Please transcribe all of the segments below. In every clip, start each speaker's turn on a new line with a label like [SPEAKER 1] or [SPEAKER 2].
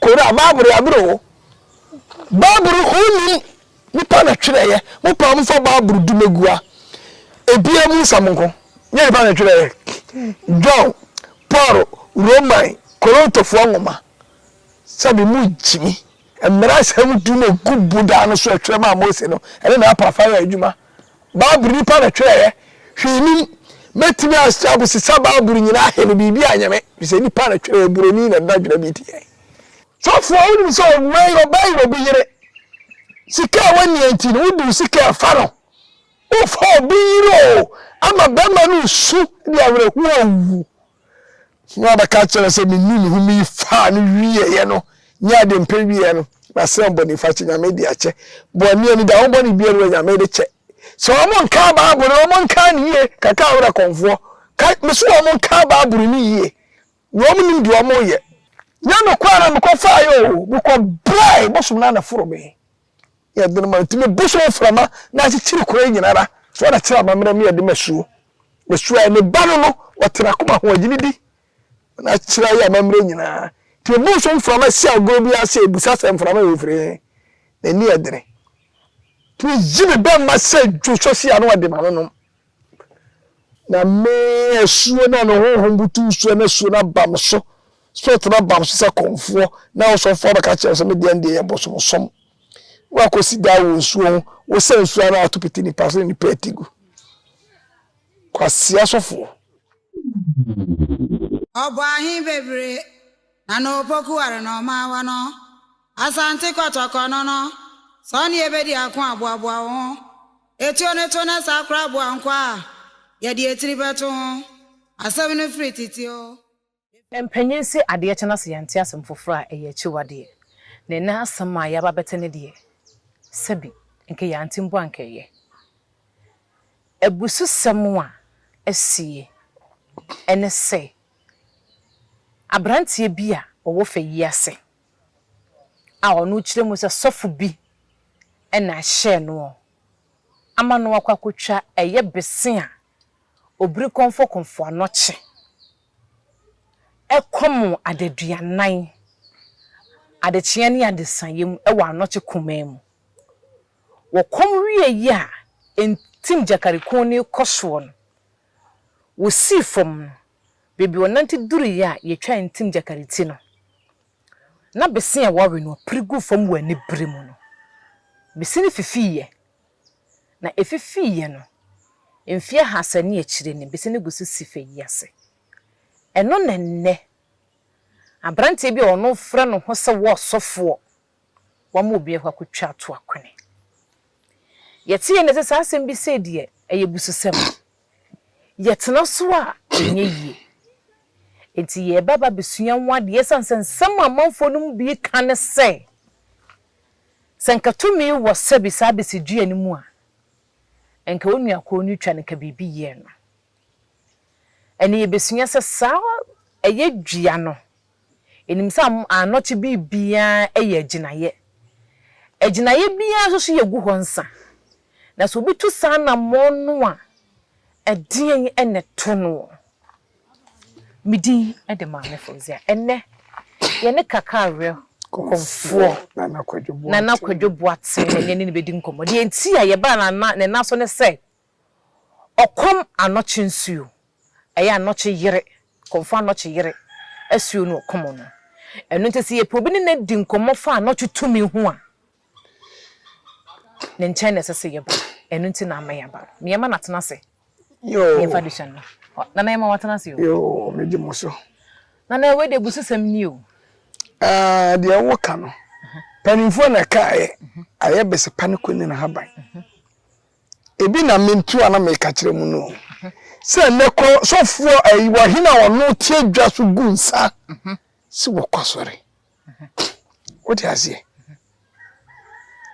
[SPEAKER 1] Kora Bible yɛ abere o. Bible ho nnim nipa na twerɛeɛ mo paa mofa Bible du no gu a ebia mo nsɛm nko nyɛ nipa na twerɛeɛ John Paul Roman Korontofoɔ nwoma sɛbi mo gyimi mmara nsɛm du no gu bodaa no so ɛtwerɛ maa Mose no ɛne na apa afa yɛ adwuma Bible nipa na twerɛeɛ, hwee nim, mɛtumi asɛ abosesa Bible nyinaa he no biribi anyɛ me, firi sɛ nipa na twerɛeɛ, buroni na na dwena bi teɛ. Sɔfoɔ wonim sɛ ɔwura yi ɔbɛyere obi yere, sika a wɔnnia nti no wode wo sika ɛfa no, wofa obi yere oo, ama bɛrima no resu de awerɛhoɔ oo. Nea ɔbɛka akyerɛ no sɛ menuu me home yi faa no wieɛ no nyɛ ade mpɛ wieɛ no, masrɛ bɔnefakyɛ, Nyame de akyɛ. Bɔne anida, wo bɔne biara wɔ Nyame de kyɛ. Sɛ wɔn nkaa Bible no, wɔn nkaa no yie, kaka awerɛ kɔnfoɔ. Ka, mese wɔn nkaa Bible no yie, na wɔn nim deɛ wɔn yɛ. Nyɛ me kwan na mekɔ faeɛ o, mekɔ brɛɛ bosom no anaforo me. Yɛ den ma no tumi bu so mframa na akyekyere kuro yi nyinara so ara kyerɛ amammerɛ mu yɛ den ma suo. Na suo a ne ba no no ɔte n'akoma ho agyini di na akyerɛ ayɛ amammerɛ nyinaa. Tumi bu so mframa si agorɔ bi ase ɛbusa sɛ mframa wɔ firi he na ani yɛ dene. Tumi yi ne bɛmma sɛ dwo sɔ si ano de ma no nom. Na me asuo no a ne honhom butuw soɔ no asuo no aba me so, spirit no aba me so sɛ kɔmfoɔ, na ɔsɔfoɔ abɛka kyerɛ me sɛ me deɛ deɛ yɛ bosomsom. Woakɔsi daa wɔ nsuo ho, wosɛ nsuo ano ato pete nipa so ne nipa ati gu. Kwasea sɔfoɔ.
[SPEAKER 2] Ɔbɔ ahe bebree na na opoku ware na ɔma awa no. Asante kɔtɔkɔ no no, sɛ ɔne yɛbɛdi ako aboaboa wo ho. Etuo no to na saa kora aboa nkwa a yɛde etiri bɛto ho. Asɛm no firi tete o. Mpanyin
[SPEAKER 3] se adeɛ kye na sɛ yɛnte asɛm foforɔ a ɛyɛ akyiwadeɛ. Na ɛnnɛ asɛm a yɛaba abɛte no deɛ, sɛbi, nka yɛante mpo a nka ɛyɛ abususɛm a asie. Ɛne sɛ, aberanteɛ bi a ɔwɔ fɛ yi ase a ɔno kyerɛ mu sɛ sɔfo bi na ɛhyɛɛ noɔ ama no akɔ akɔtwa ɛyɛ bese a obiri kɔmfɔkɔmfɔ anɔkye ɛkɔm adaduanan adekyeɛ ne adesaeɛ mu wɔ anɔkye kumaa mu. Wɔkɔm wie yi a ntim Gyakari Kɔn no rekɔ soɔ no, wɔsii fam no, Beebi ɔnante duruiɛ a yɛtwaa ntim gyakari ti no, na bese a wɔwe no pere guu fam wɔ anibere mu no, bese no fifiiɛ. Na ɛfifiiɛ no, mfeɛ ahasa ne akyire ni bese no gu so si fa yi ase. Ɛno na ɛnnɛ, aberanteɛ bi a wɔfrɛ no ho sɛ wɔɔsɔfoɔ wɔama obi akɔ akɔtwa ato akwene. Yɛte yɛn nne sɛ saa asɛm bi sei deɛ ɛyɛ abususɛm. Yɛtena so a, ɛnyɛ yie. Enti yɛreba aba abɛsua ho adeɛ ɛsiane sɛ nsɛm a amanfoɔ no mu bi reka ne sɛ, sɛ nka tumi wɔ sɛbi saa bɛsi dua no mu a, nka wo nua kɔɔ no twa no nka biribi yɛɛ no. Ɛnna yɛbɛsua sɛ saa ɛyɛ dua no, Yenim sɛ annɔkye biribiara yɛ agyinaeɛ. Agyinaeɛ biara nso so yɛgu hɔ nsa. Na sɛ obi tu saa anammɔn no a, ɛdeɛn na ɛto noɔ? Me din de Maame Fauziah. Ɛnnɛ, yɛne Kakareɛ kɔmfoɔ Nana Kwadwo Boateng na yɛne no bɛdi nkɔmmɔ. Deɛ nti a yɛbaa Nana so ne sɛ, Ɔkɔm anɔkye nsuo, ɛyɛ anɔkye yere, kɔmfoɔ anɔkye yere asuo ne ɔkɔm no. Ɛno nti sɛ yɛpɛ obi ne no adi nkɔmmɔ fa anɔkye tumi ho a, ne nkyɛn na ɛsɛ sɛ yɛba. Ɛno nti na ama yɛaba no. Me yɛma no atena ase. Yoo. Yɛmfa adesua no ma. Ɔ, Nana yɛma watena ase o. Yoo, megye mo so.
[SPEAKER 1] Nana wei
[SPEAKER 3] deɛ abusisɛm ni o. Ah,
[SPEAKER 1] deɛ woka no, mpanimfoɔ na ɛkaeɛ, ayɛ besepa ne kɔnyina haban. Ebi na mentu a na meka kyerɛ mu no sɛ nnɛ kɔ sɔfoɔ ayi wɔhene a ɔno te adwa so gu nsa sɛ wɔkɔ asɔre. Wote aseɛ?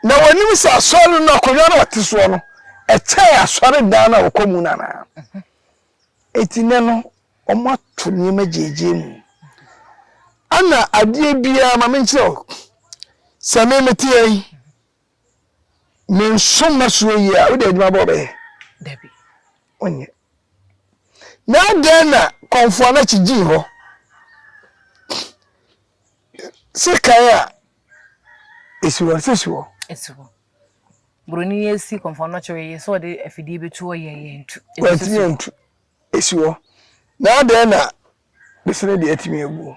[SPEAKER 1] Na wɔnim sɛ asɔre no akonnwa no ɔte soɔ no ɛkyɛn asɔre dan no a wɔkɔ mu no anaa. Eti nnɛ no wɔn ato nneɛma gyegye mu. Ana adeɛ biara ma menkyerɛ wo sɛ me mete yɛn. Ne nso ma suro yie a, wode adwuma bɛn wobɛyɛ? Dabi,
[SPEAKER 3] wonyɛ.
[SPEAKER 1] Na adɛn na Kɔmfo Anakye gyii hɔ? Se kan a, esi hɔ, se si hɔ. Esi hɔ.
[SPEAKER 3] Buroni esi Kɔmfo Anakye hɔ, yɛ sɛ ɔde afidie bɛtu hɔ yɛ yɛ ntu. Wantumi antu,
[SPEAKER 1] esi hɔ. Na adɛn na Besene deɛ atumi agu.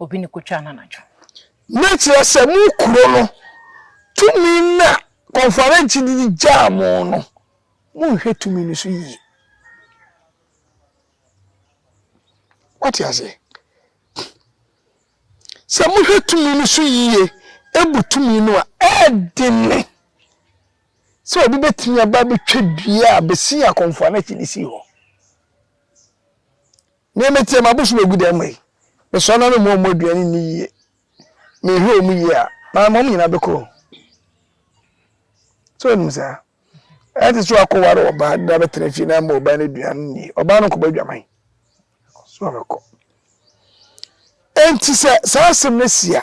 [SPEAKER 1] Obi
[SPEAKER 3] ne kotwa no anadwo. Na kyerɛ
[SPEAKER 1] sɛ mo kuro no tumi na kɔnfuarɛnkye no de gyaa mo no, monhwɛ tumi no so yie. Wate aseɛ? Sɛ mohwɛ tumi no so yie, ebu tumi no a, ɛɛdene sɛ obi bɛtumi aba abɛtwa dua a bɛsi akɔnfuarɛnkye no sii hɔ. Nea mete, m'abosom agu dɛn mmɔ yi? Mesɔre na memmɔ wɔn aduane nni yie. Menhwɛ wɔn yie a, maama wɔn nyinaa bɛkɔ o. So nim saa? Ɛnte sɛ wakɔware ɔbaa na bɛtena fie na mma ɔbaa no aduane nni. Ɔbaa no nkɔbɔ adwaman. So ɔbɛkɔ. Enti sɛ saa asɛm no si a,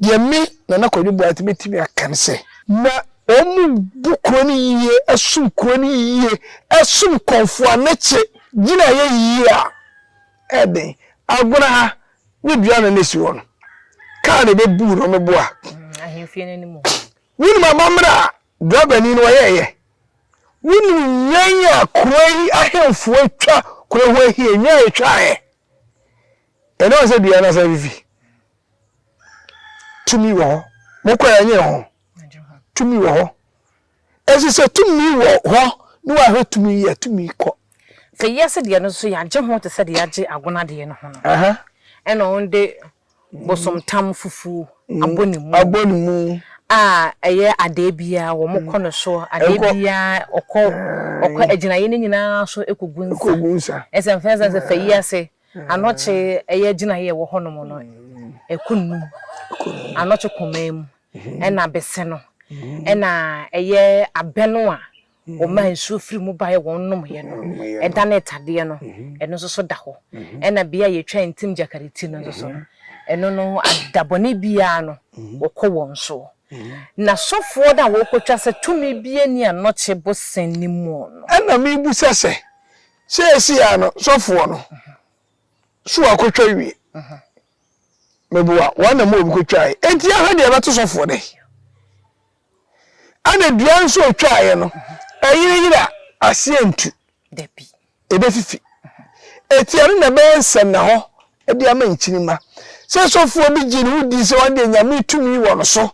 [SPEAKER 1] deɛ me, Nana Kwabena Boateng, mɛtumi aka ne sɛ, ma wɔmmu kuro no yie, som kuro no yie, som Kɔmfoɔ Anekye gyinaeɛ yie a ɛyɛ den. Agona ha ne dua no na ɛsi hɔ no, kaa na ɛbɛbuu no, wɔmeboa.
[SPEAKER 3] Wonim amammerɛ
[SPEAKER 1] a Drabani no ɔyɛeɛ. Wonim nnwan a kuro yi ahemfo atwa kuro ho ahia, nnwan a ɛtwaeɛ. Ɛnam sɛ dua no asan afifi. Tumi wɔ hɔ. Mokɔ yɛ nyɛ ho. Tumi wɔ hɔ. Ɛso sɛ tumi wɔ hɔ ne wahwɛ tumi yɛ tumi kɔ. Sɛ wiase deɛ
[SPEAKER 3] no nso yɛagye ho te sɛ deɛ yɛagye agonadeɛ no ho no. Ɛna wɔn de Bosomtam fufuw abɔ ne mu. Abɔ ne mu. A ɛyɛ adeɛ biara wɔn kɔ no so adeɛ biara ɔkɔ ɔkɔ agyinaeɛ no nyinaa so kɔgu nsa. Kɔgu nsa. Ɛsɛ mfɛn sɛ sɛ fɛ yi ase anɔkye ɛyɛ gyinaeɛ ɛwɔ hɔnom no ɛkɔ nnum anɔkye kɔmaa mu ɛna bɛsɛ no ɛna ɛyɛ abɛ no a. wɔmaa nsuo firi mu baeɛ wɔn nomyɛ no, ɛda ne tadeɛ no, ɛno nso so da hɔ, ɛna bea a yɛtwa ntim gyakari ti no nso so no, ɛno no da bɔne biara no wɔkɔ wɔn soɔ. Na sɔfoɔ no a wɔkɔtwa sɛ tumi biara nni anɔkye bosene no mu no. Ɛna mebisa sɛ,
[SPEAKER 1] Seesei ara no sɔfoɔ no so wakɔtwa awie? Meboa, wɔn na mowɔ mu kɔtwaeɛ, enti yɛnhwɛ deɛ ɛbɛto sɔfoɔ dɛn. Ɛna dua nso otwaeɛ no, ɛyereyere a, aseɛ rentu.
[SPEAKER 3] Ɛbɛfifi.
[SPEAKER 1] Ɛti ɛno na ɛbɛyɛ nsɛnnahɔ de ama nkyirimma. Sɛ sɔfoɔ bi gye ne ho di sɛ ɔno deɛ Nyame tumi wɔ no so,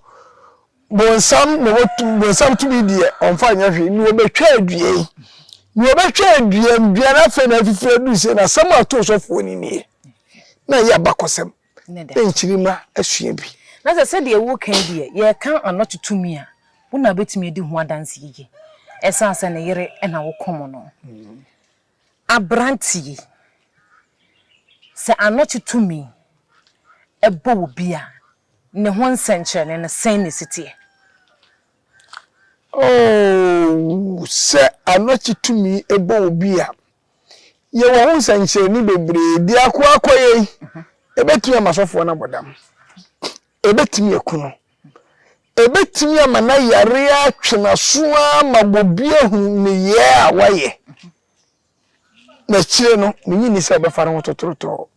[SPEAKER 1] bonsam na ɔwɔ tumi, bonsam tumi deɛ ɔmfa nyɛ hwee, na ɔbɛtwa dua yi. Na ɔbɛtwa dua no, dua no afei na afifiri aduru sei, na asɛm a ɔtoo sɔfoɔ no nie. Na ɛyɛ abakɔsɛm. ne nkyirimma asua bi. Na sɛ sɛdeɛ woreka
[SPEAKER 3] yi deɛ yɛreka ano to tumi a, wo na wobɛtumi adi ho adanse yiye ɛsan sɛ ne yere na wokum no. Aberante yi, sɛ ano to tumi bɔ obi a, ne ho nsɛnkyerɛnne no, sɛn na ɛsi teɛ?
[SPEAKER 1] Oo, sɛ ano to tumi bɔ obi a, Yɛwɔ ho nsɛnkyerɛnne bebree. Biako ara kɔ yei, ɛbɛtumi ama sɔfoɔ no abɔ dam. Ɛbɛtumi aku no. Ɛbɛtumi ama na yare atwe n'aso ara ma obi ahu nneyɛɛ a wayɛ. Na akyire no, menye nni sɛ ɔbɛfa ne ho totototoo.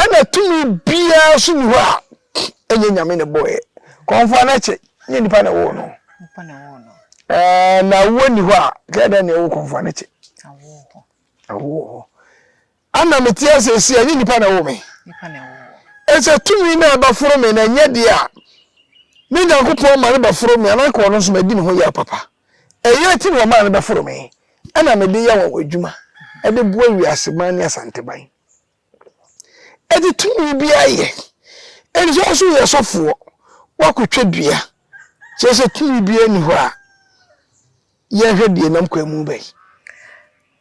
[SPEAKER 1] Ɛna tumi biara nso ni hɔ a ɛnyɛ Nyame na ɛbɔɔɛ. Kɔmfoa no ɛkyɛ, nyɛ nipa na ɛwoo no. Ɛɛ na awuo ni hɔ a, kɛɛ dɛn na ɛwo kɔmfoa no ɛkyɛ? Awuo wɔ hɔ. Ana mete ase ɛsi a, nyɛ nipa na ɛwo me. Ɛsɛ tumi na ɛba foro me na ɛnyɛ deɛ a, ne Nyankopɔn ma no ba foro me, anaa nka ɔno nso madi ne ho yɛ papa. Eyi akyi no wɔmaa me bɛforo me na mede yɛ wɔn adwuma de boa wiaseman ne Asanteman. Enti tumi biara yɛ, enti sɛ ɔso yɛ sɔfoɔ wakɔtwa dua kyerɛ sɛ tumi biara nni hɔ a yɛnhwɛ deɛ nam kwan mu bɛn.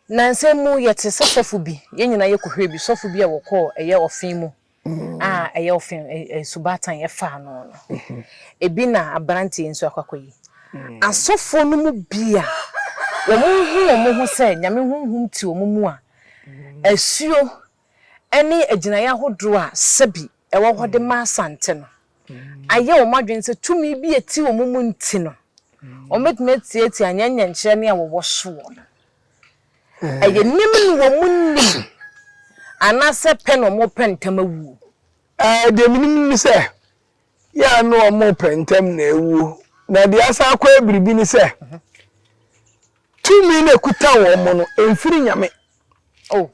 [SPEAKER 3] Nansa mu yɛte sɛ sɔfo bi, yɛn nyinaa yɛkɔhwɛɛ bi, sɔfo bi a wɔkɔɔ ɛyɛ ɔfe mu. a ɛyɛ wo fɛ, asubatan ɛfa ano no, ebi na aberanteɛ nso akɔakɔyi. Asɔfoɔ no mu bi a wɔhu wɔn ho sɛ Nyame honhom te wɔn mu a, asuo ne agyinaeɛ ahodoɔ a sɛbi ɛwɔ hɔ de ma Asante no ayɛ wɔn adwene sɛ tumi bi a ɛte wɔn mu nti no, wɔbɛtumi atiatia nyɛ nyɛnkyerɛ ne a wɔwɔ soɔ no. Ɛyɛ nim no wɔn mo nim anaasɛ pɛ na wɔn mo pɛ ntɛm awuo. Ɛɛ deɛ
[SPEAKER 1] me nim ne sɛ yɛ a na wɔn mo pɛ ntɛm na awuo na deɛ asan akɔ yɛ biribi ne sɛ tumi na ɛkuta wɔn mo no ɛmfiri nyame. Oh.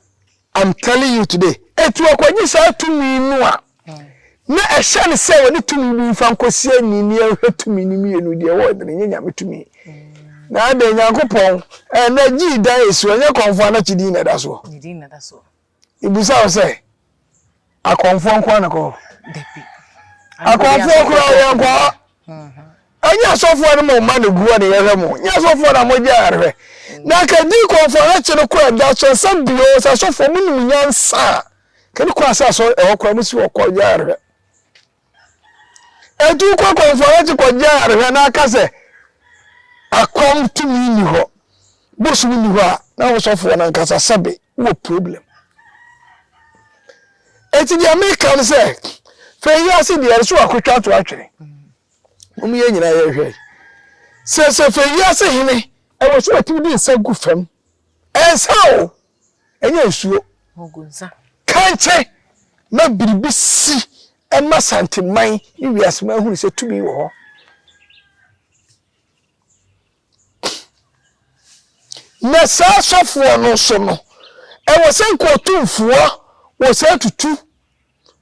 [SPEAKER 3] I'm
[SPEAKER 1] telling you today. Enti ɔkɔgye saa tumi no a na ɛhyɛ no sɛ ɔde tumi bi mfa nkɔsi ani ne ɛhwɛ tumi no mmienu deɛ ɛwɔ ɛdene nyɛ nyame tumi na adɛn nyankopɔn ɛnɛ gyii dan ɛsi ɔnyɛ kɔnfo ana kyidin na ɛda soɔ
[SPEAKER 3] mebusa wo sɛ
[SPEAKER 1] Akɔmfoɔ nkoa na kɔ hɔ.
[SPEAKER 3] Dabi. Akɔmfoɔ
[SPEAKER 1] koraa yɛn kɔ hɔ. Ɛnyɛ asɔfoɔ no mo mma na gu hɔ na yɛhwɛ mo. Nyɛ asɔfoɔ na mo gya yɛhwɛ. Na ka di kɔmfoɔ na kye no kɔ ɛda so ɛsɛ bio sɛ asɔfoɔ mo nim nyansa a. Ka di kɔ asɛ asɔ ɛhɔ koraa mo si hɔ kɔ gya yɛhwɛ. Etu kɔ akɔmfoɔ no akyi kɔgye ayarehwɛ na aka sɛ akɔm tumi nni hɔ, bosom nni hɔ a, na wo sɔfoɔ no ankasa sɛbe wowɔ problem. Eti deɛ meka no sɛ, fɛ yi ase deɛ ɛso akotwa to atwene. Mom yɛ nyinaa yɛhwɛ. Sɛ sɛ fɛ yi ase hene ɛwɔ so atumi de nsa gu fam. Ɛnsa o. Ɛnyɛ nsuo.
[SPEAKER 3] Kankye
[SPEAKER 1] ma biribi si ɛma Asanteman ne wiaseman hunu sɛ tumi wɔ hɔ. Na saa asɔfoɔ no nso no, ɛwɔ sɛ nka ɔtumfoɔ wɔ saa tutu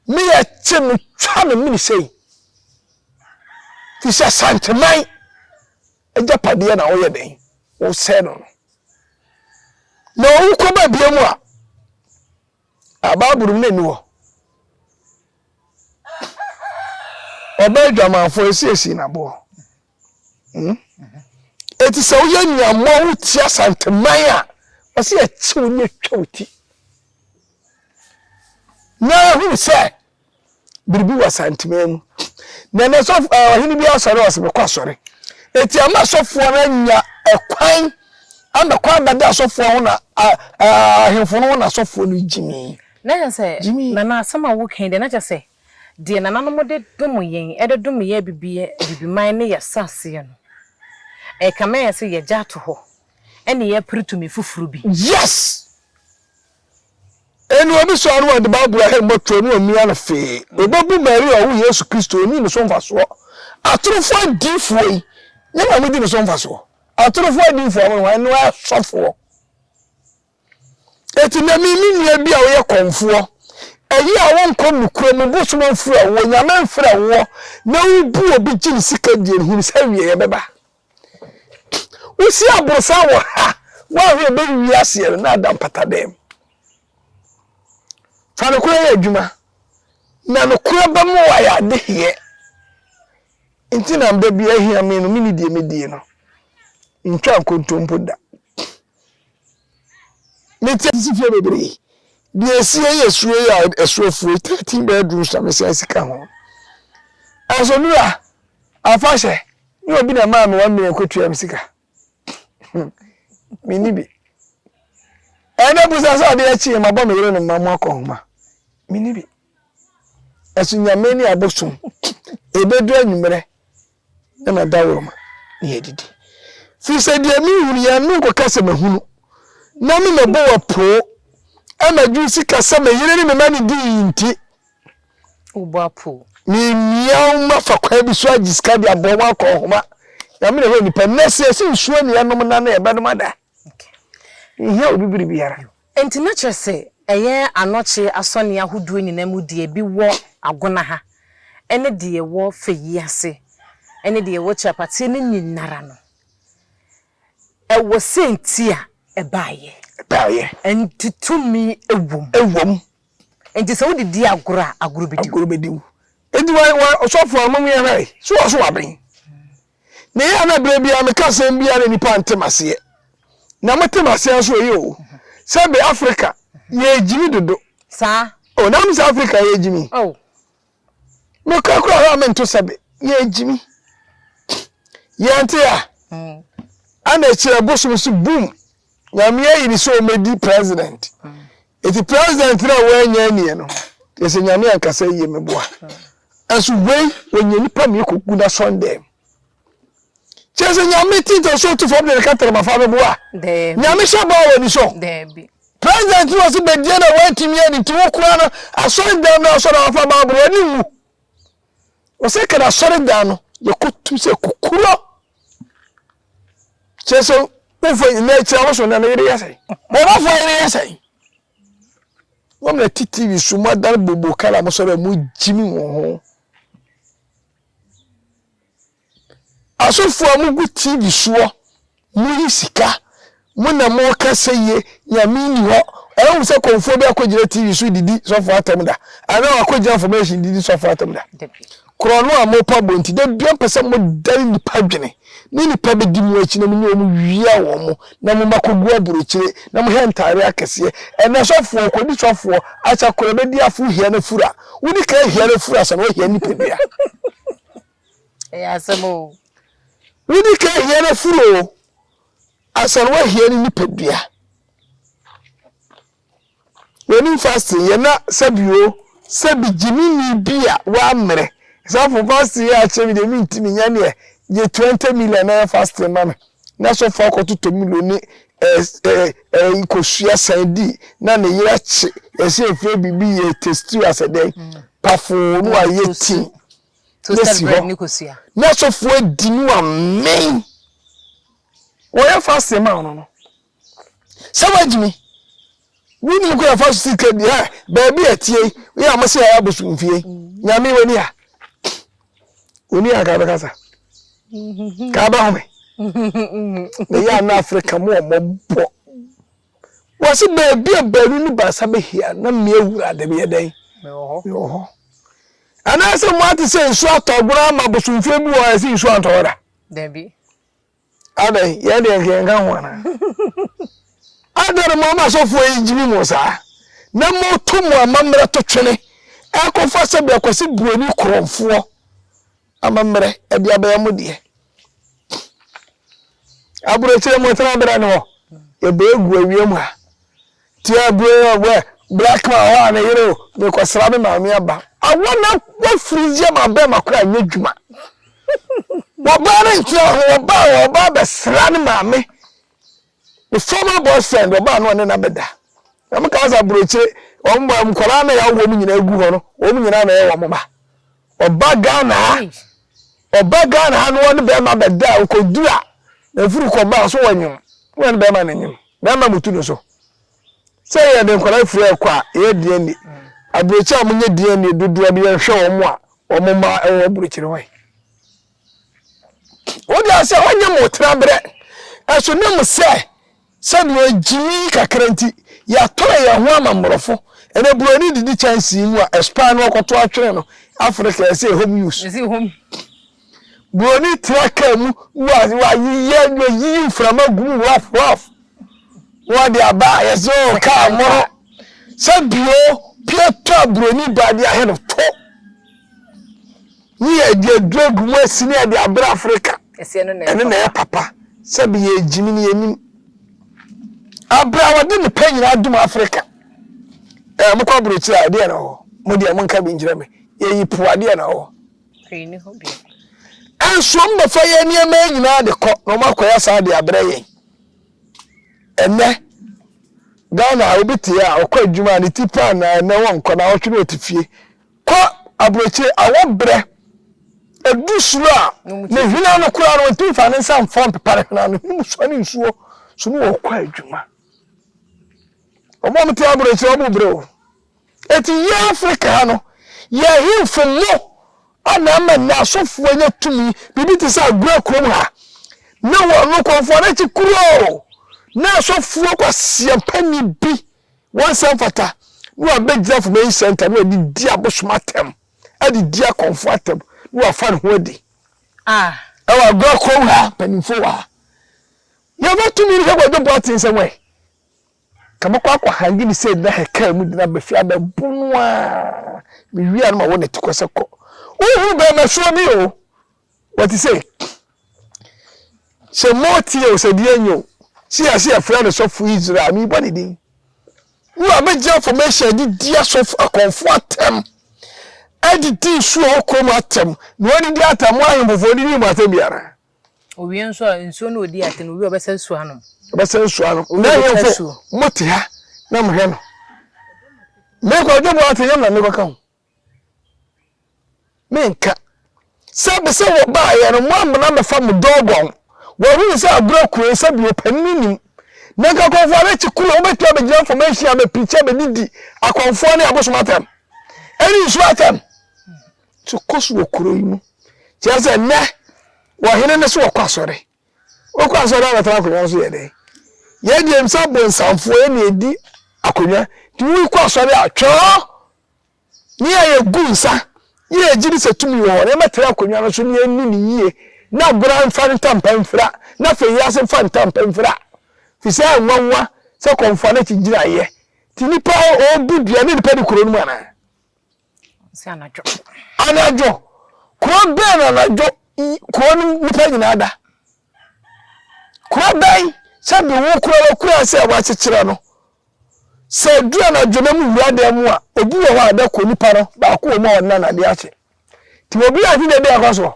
[SPEAKER 1] me yɛ kye me twa me mene sɛi. Fi sɛ Asanteman agyapadeɛ na woyɛ dɛn? Wosɛe no no. Na owu kɔ baabiara mu a, a Bible mu na ɛni hɔ. Ɔbaa adwamanfoɔ ɛsiesie n'aboɔ. Hmm? Ɛti sɛ woyɛ nnuammɔ wo ti asanteman a, ɔsɛ yɛkye wo ne atwa wo ti. Na ɛhunu sɛ biribi wɔ Asanteman mu. Na na sɔfo ɛɛ eh, ɔhene bi asɔre a ɔsɛ mekɔ asɔre. Eti ama asɔfoɔ no anya ɛkwan ama kwan abɛda asɔfoɔ ho na ahemfo no ho na asɔfoɔ no gyimii. Na kyɛ sɛ gyimii.
[SPEAKER 3] Nana asɛm a wokan deɛ na kyɛ sɛ deɛ nananom de dom yɛn ɛde dom yɛ abibi abibiman ne yɛ saseɛ no ɛkame ayɛ sɛ yɛgya ato hɔ ɛne yɛpere tumi foforo bi. Yes!
[SPEAKER 1] Eno ɔbesua no ɔde Bible ahe mmɔtoɔ ne ɔmia no fee. Ɔbebu Maria ɔwo Yesu Kristo ɔnni ne so mfasoɔ. Atorofoɔ adiifoɔ yi nyɛ na modi ne so mfasoɔ. Atorofoɔ adiifoɔ mo hwan no ɛ sɔfoɔ. Eti na mi me nua bi a woyɛ kɔmfoɔ ɛyi a wonkɔ nokura mu bosom mfrɛ woɔ, Nyame mfrɛ woɔ na wobu obi gye ne sika die no hunu sɛ awieɛ bɛba. Wosi aborosan wɔ ha. Woahwɛ a ɛbɛwie aseɛ no na ada mpatadan mu. Fa nokorɛ yɛ adwuma, na nokorɛ bɛma woayɛ adeheɛ. Nti na da bi ahia me no, menni deɛ medie no. Mentwa nkontompo da. Mete sisi fie bebree. Deɛ ɛsie yɛ suro yi a ɛso afue, 13 bedrooms na mesan sika ho. Asonura, afahyɛ. Nyɛ obi na ɛmaa me one million kɔtua me sika. Menni bi. Ɛyɛ dɛ busa sɛ adeɛ kyeeɛ mabɔ me yere ne mma mo akɔ nhoma. Menni bi. Ɛso nyame ne abosom ɛbɛduru anwummerɛ na madaworoma na yɛadidi. Firi sɛ deɛ mehunu yɛ no nkɔka sɛ mahunu na memɛbɔ wapoo ama dwene sika sɛ me yere ne me mma ne dii nti. Wobɔ
[SPEAKER 3] apow. Mimia
[SPEAKER 1] wo mma fa kwan bi so agye sika de abɔ wɔn akɔnhoma. Nyame na ɛhɔ nnipa. Nnɛ sɛ yɛse nsuo na yɛnom nna no yɛbɛnom ada. Yɛnhia obi biribiara. Enti na kyerɛ sɛ
[SPEAKER 3] ɛyɛ anɔkye asɔneɛ ahodoɔ nyinaa mu deɛ bi wɔ Agona ha ne deɛ ɛwɔ Fayi ase ne deɛ ɛwɔ Kyapateɛ no nyinara no ɛwɔ sɛ nti a ɛbaeɛ. Ɛbaeɛ. Nti tumi wɔ mu. Wɔ mu. Enti sɛ wode di agorɔ a, agorɔ bɛdi wo. Agorɔ bɛdi wo. Enti wa, wa,
[SPEAKER 1] ɔsɔfo a, mom yɛhwɛ, so wɔ so waben? Na ɛyɛ a na berɛ biara meka asɛm bi a na nnipa nte m'aseɛ. Na mote m'aseɛ nso ɛyɛ o. Sɛbe Afrika, yɛregyimi dodo. Saa. O,
[SPEAKER 3] na mo sɛ Afrika
[SPEAKER 1] yɛregyimi? O. Nokorɛ koraa hɔ a mento sɛ be yɛɛ gyimi yɛnte a ɛna akyire ɛbosom so boom nyame ayi ne sɛ ɔmɛdi president ɛti president no a wɔanya anie no yɛ sɛ nyame ankasa yie meboa ɛnso wei wɔnya nipa mmiɛ kɔgu no asɔndɛm Kyerɛ sɛ nyame titɔ so to fam de ne kataramafa bɛbo
[SPEAKER 3] a
[SPEAKER 1] nyame hyɛ bɔ a w'ani sɔ president no ɔse bɛdie na woantumi ani nti wo koraa no asɔre dan no asɔ na wafa baaboro w'ani nwu ɔsɛ kana asɔre dan no yɛkɔtu sɛ kukurɔ kyerɛ sɛ wofa nyina akyira wo so na ne yere yɛ sɛn bɔnɔfoɔ yere yɛ sɛn wɔm na ti tv so moadane bobo kala mosɔre a mogyimi wɔ ho Asɔfo a mo gu TV soɔ mo yi sika mo na mo ka sɛ ye nyame nni hɔ ɛyɛ hu sɛ kɔmfoɔ bi akɔ gyina TV so didi sɔfo atam da anaa wakɔ gyina formation didi sɔfo atam da korɔ no a mo pa bɔ nti da bia mpɛ sɛ mo dane nipa dwene ne nipa bɛdi mo akyi na mo nyɛ wɔn wia wɔn mo na mo ma kɔgu aburokyire na mo hɛ ntaare akɛseɛ ɛnɛ sɔfoɔ kɔdi sɔfoɔ akyɛ korɔ bɛdi afo hia no fura wodi ka hia no fura sɛ na ɔhia nipa bia Ɛyɛ asɛm
[SPEAKER 3] o. Wodi
[SPEAKER 1] ka hia no furu o. Asan wahia ne nipadua. W'anim fasting yɛ na sɛbi o sɛbi gyimini bi a w'ammerɛ. Example fasting yɛ akyerɛ mi deɛ mi ntumi nya neɛ gye twenty million na yɛ fasting ma me. na asɔfo akɔto tomino ne ɛɛ kosua san di na ne yere akye yɛsɛ efrɛ biribi yɛ testiri asɛ dɛn mm. pafoo no a yɛ ti na si
[SPEAKER 3] hɔ na asɔfo adi
[SPEAKER 1] no amen wɔyɛ fa asɛm a ɔno no sɛ woagyimi wonim kɔ yɛfa so sika di ha baabi a tie yi a mose yɛyɛ abosom fie nyame wani ha wani a ka bɛkasa ka bɛhome meyɛ ana afrika mu ɔmɔbɔ wɔse baabi a baanu ne baasa bɛhia na mmea wura de bɛyɛ dɛn mewɔ hɔ anaasɛ moate sɛ nsuo atɔ agorɔ ama abosomfie bi wɔ ɛse nsuo antɔwɔ da dabi Adɛn yɛ deɛ nka yɛnka ho anaa? Adɛn na moama asɔfoɔ yi gyimi mo saa, na moto mo amammerɛ to twene rekɔfa sɛdeɛ Kwasi Buroni korɔmfoɔ amammerɛ de abɛyɛ mo deɛ? Aburokyire motena berɛ no hɔ, yɛbɛgu awia mu ha. Tia bro ɔ bɛ black man ɔ a ne yere o me kɔ sra me maame aba. Awɔ na wa firi yɛ ma bɛɛma koro a nyɛ dwuma wɔ baa no ntena ho wɔ baa wɔ baa bɛ sra ne maame ne former boyfriend wɔ baa no ɔne na bɛ da na mo kaa sa brokyire wɔn bɔ nkɔla na ya wɔn nyina egu hɔ no wɔn nyina na yɛ wɔn ba ɔba Ghana ha ɔba Ghana ha no ɔne bɛɛma bɛ da ɔkɔ dura na firi kɔ baa so wɔ nyom wɔ ne bɛɛma ne nyom. Mɛma mo tu no so. Sɛ yɛde nkwadaa firi hɔ kɔ a, ɛyɛ den ani. Aburokyire a wɔnyɛ den ani dodoɔ no, yɛhwɛ wɔn a wɔn mma wɔ aburokyire hɔ yi. Wode asɛ ɔnyɛ mo tenaberɛ. Ɛso ne mo sɛ, sɛdeɛ gyimi kakra nti, yɛatɔn yɛn ho ama mmorɔfo. Ɛnɛ buroni didi kyɛnsee mu a, ɛspan no ɔkɔto atwene no, Africa ɛsɛ home use. Buroni tra kaa mu na wayeyɛ na wayiyi mframa gu mu rough rough na wade aba a yɛsɛ sɛ oh kaa mmoro sɛ bio pie tɔ a buroni ba de ahe no to ne yɛde aduro agu mu asi ne yɛde abrɛ Afrika ɛno na ɛyɛ papa sɛ bi yɛ gyimi ne yɛnim abrɛ a wɔde ne pɛ nyinaa dum Afrika ɛɛ mokɔ aburokyiri a ɛdeɛ na ɔwɔ mo deɛ monka bi nkyerɛ me yɛyi po adeɛ na ɔwɔ
[SPEAKER 3] Hwee nni hɔ bio.
[SPEAKER 1] Nanso wɔbɛfa yɛn nneɛma yi nyinaa de kɔ na wɔakɔyɛ saa de abrɛ yɛn. Ɛnnɛ, Ghana a obi te a ɔkɔ adwuma a ne ti pan na ɛnnɛ wɔnkɔ na awɔtwe na ɔte fie. Kɔ aburokyire awɔbrɛ ɛdu soro a ne hwena no koraa no ɔntumi fa ne nsa mfɔ mpepa ne hwena no ne mu sua ne nsuo so ne wɔkɔ adwuma. Wɔn a wɔte aburokyire wɔn bo brɛ o. Enti yɛn Afrika ha no, yɛn ahemfo mo a na ama nnɛ asɔfoɔ anya tumi, biribi te sɛ Agora kurom ha, ne wɔn no kɔmfoɔ no akyi kuroo, na asɔfoɔ kwaseampani bi wɔn nsa mfata, na wabɛgyina Information Center, na wadi di abosom atɛm, adi di akɔmfoɔ atɛm, na wafa ne ho adi. Ah. Ɛwɔ Agora kurom ha, mpanimfoɔ wɔ ha. Yɛmfa tumi no hwɛ Kwadwo Boateng sɛ wɛn. Ka mɛkɔ akɔ hangi ne sɛ gyina hɛ kaa mu gyina bɛfi abɛ bo no a me wia no ma wo ne te kɔ sɛ kɔ wo hunu bɛɛ mɛ soɔ bi o wɔ te sɛ sɛ mo tie o sɛ deɛ nyɛ o si yɛ se yɛ frɛ no sɔfo Israel me bɔ ne din wo a bɛgye information de di asɔfo akɔnfo atɛm ɛde di nsuo wɔ kurom atɛm na wɔde di atɛm mo ahemfofo de di mo atɛm biara Owie nso a,
[SPEAKER 3] nsuo no ɔdi atɛm, owie
[SPEAKER 1] a ɔbɛsa
[SPEAKER 3] nsuo anom.
[SPEAKER 1] Ɔbɛsa
[SPEAKER 3] nsuo anom.
[SPEAKER 1] N'ahemfo,
[SPEAKER 3] mote
[SPEAKER 1] ha
[SPEAKER 3] na
[SPEAKER 1] mohwɛ no. Me Kwadwo Boateng yam na mekɔka ho. Menka. Sɛ bɛ sɛ wɔbaeɛ no, moammena mmɛfa mo dɔgɔn. Wɔahu sɛ agorɔ akuro yi, sɛbi ɔpanin nnim. Na nka akɔmfoɔ no akyi kuro, wobɛtumi abɛgyina information abɛpirikyi abɛdidi akɔmfoɔ ne abosom atɛm. Ɛne nsuo atɛm. so kɔ so wɔ kuro yi mu. Kyerɛ sɛ nnɛ ɔhene no so ɔkɔ asɔre. Ɔkɔ asɔre a ɔbɛtena akonnwa no so yɛ dɛn? Yɛn deɛ nim sɛ abonsamfoɔ yɛ na ɛdi akonnwa nti woi kɔ asɔre a twɛɔ ne a yɛgu nsa ne yɛgye ne sɛ tumi wɔ hɔ na yɛbɛtena akonnwa no so ne yɛnni ne yie na bora mfa ntampa mfira na afei yɛ ase mfa ntampa mfira fi sɛ nwanwa sɛ kɔmfoɔ no akyi gyinaeɛ nti nipa ɔbu dua ne nipa di kuro no mu anaa
[SPEAKER 3] Sɛ anadwo. Anadwo. Kuro
[SPEAKER 1] bɛn na anadwo kuro no nipa nyinaa da? Kuro bɛn sɛ de wo kura wa kura sɛ wakyekyerɛ no? Sɛ du anadwo na mu wura dan mu a, obi wɔ hɔ a da kɔ nipa no baako wɔ mu a ɔnna n'ade akyɛ. Ti obi a ɔde dade akɔ so.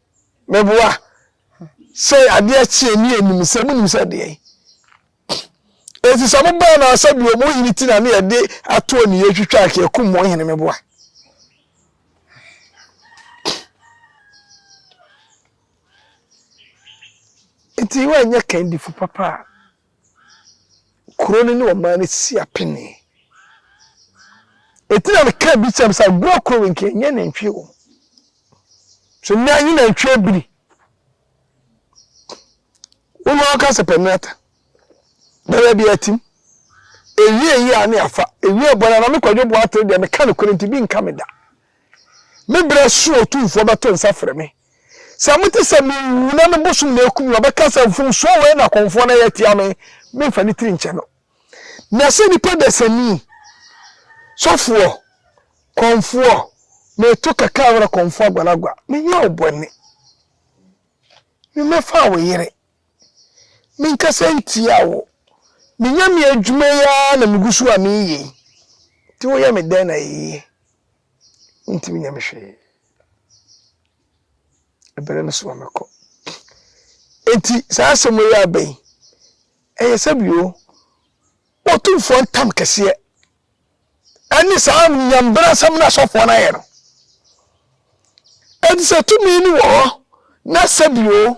[SPEAKER 1] Meboa. Sɛ adeɛ kyeɛ ne yɛnim sɛ monim sɛ deɛn. Enti sɛ mobaa no sɛ bi ɔmo hene ti na ne yɛde atoɔ ne yɛtwitwa ake akum mo hene meboa. Enti woanyɛ kandifo papa a Kuro no ne ɔman no si apenee. Enti na meka bi kyerɛ me sɛ Agua kuro wei nka ɛnyɛ nantwie wɔ mu. So nnɛ anyi nantwie abiri. Wo na ɔka sɛ pɛnata. Bɛyɛ bi atim. Ewie eyi a ne afa. Ewie bɔ na na me kwadwo boa tere deɛ meka no kore nti bi nka me da. Me berɛ so otumfoɔ bɛto nsa frɛ me. Sɛ mote sɛ merewu na me bosom na akum me a, ɔbɛka sɛ, 'Mfomsoɔ wei na kɔmfoɔ no ayɛ atia me, memfa ne tiri nkyɛ no. Na sɛ nipa dasani, sɔfoɔ, kɔmfoɔ, meto kɛkɛ awerɛ kɔmfoɔ aguanagua, menyɛ wo bɔne, memmɛfaa wo yere, menkasa ntiaa wo, menya me adwuma yi ara na megu so a mereyɛ yi, nti woyɛ me dɛn na ɛyɛ yie? Wontumi nyɛ me hwee. Ɛbɛrɛ no so a mɛkɔ. Enti saa asɛm yi aba yi, ɛyɛ sɛ bio Otumfoɔ ntam kɛseɛ ɛne saa nyambra asɛm no asɔfoɔ no ayɛ no. Enti sɛ tumi no wɔ hɔ na sɛ bio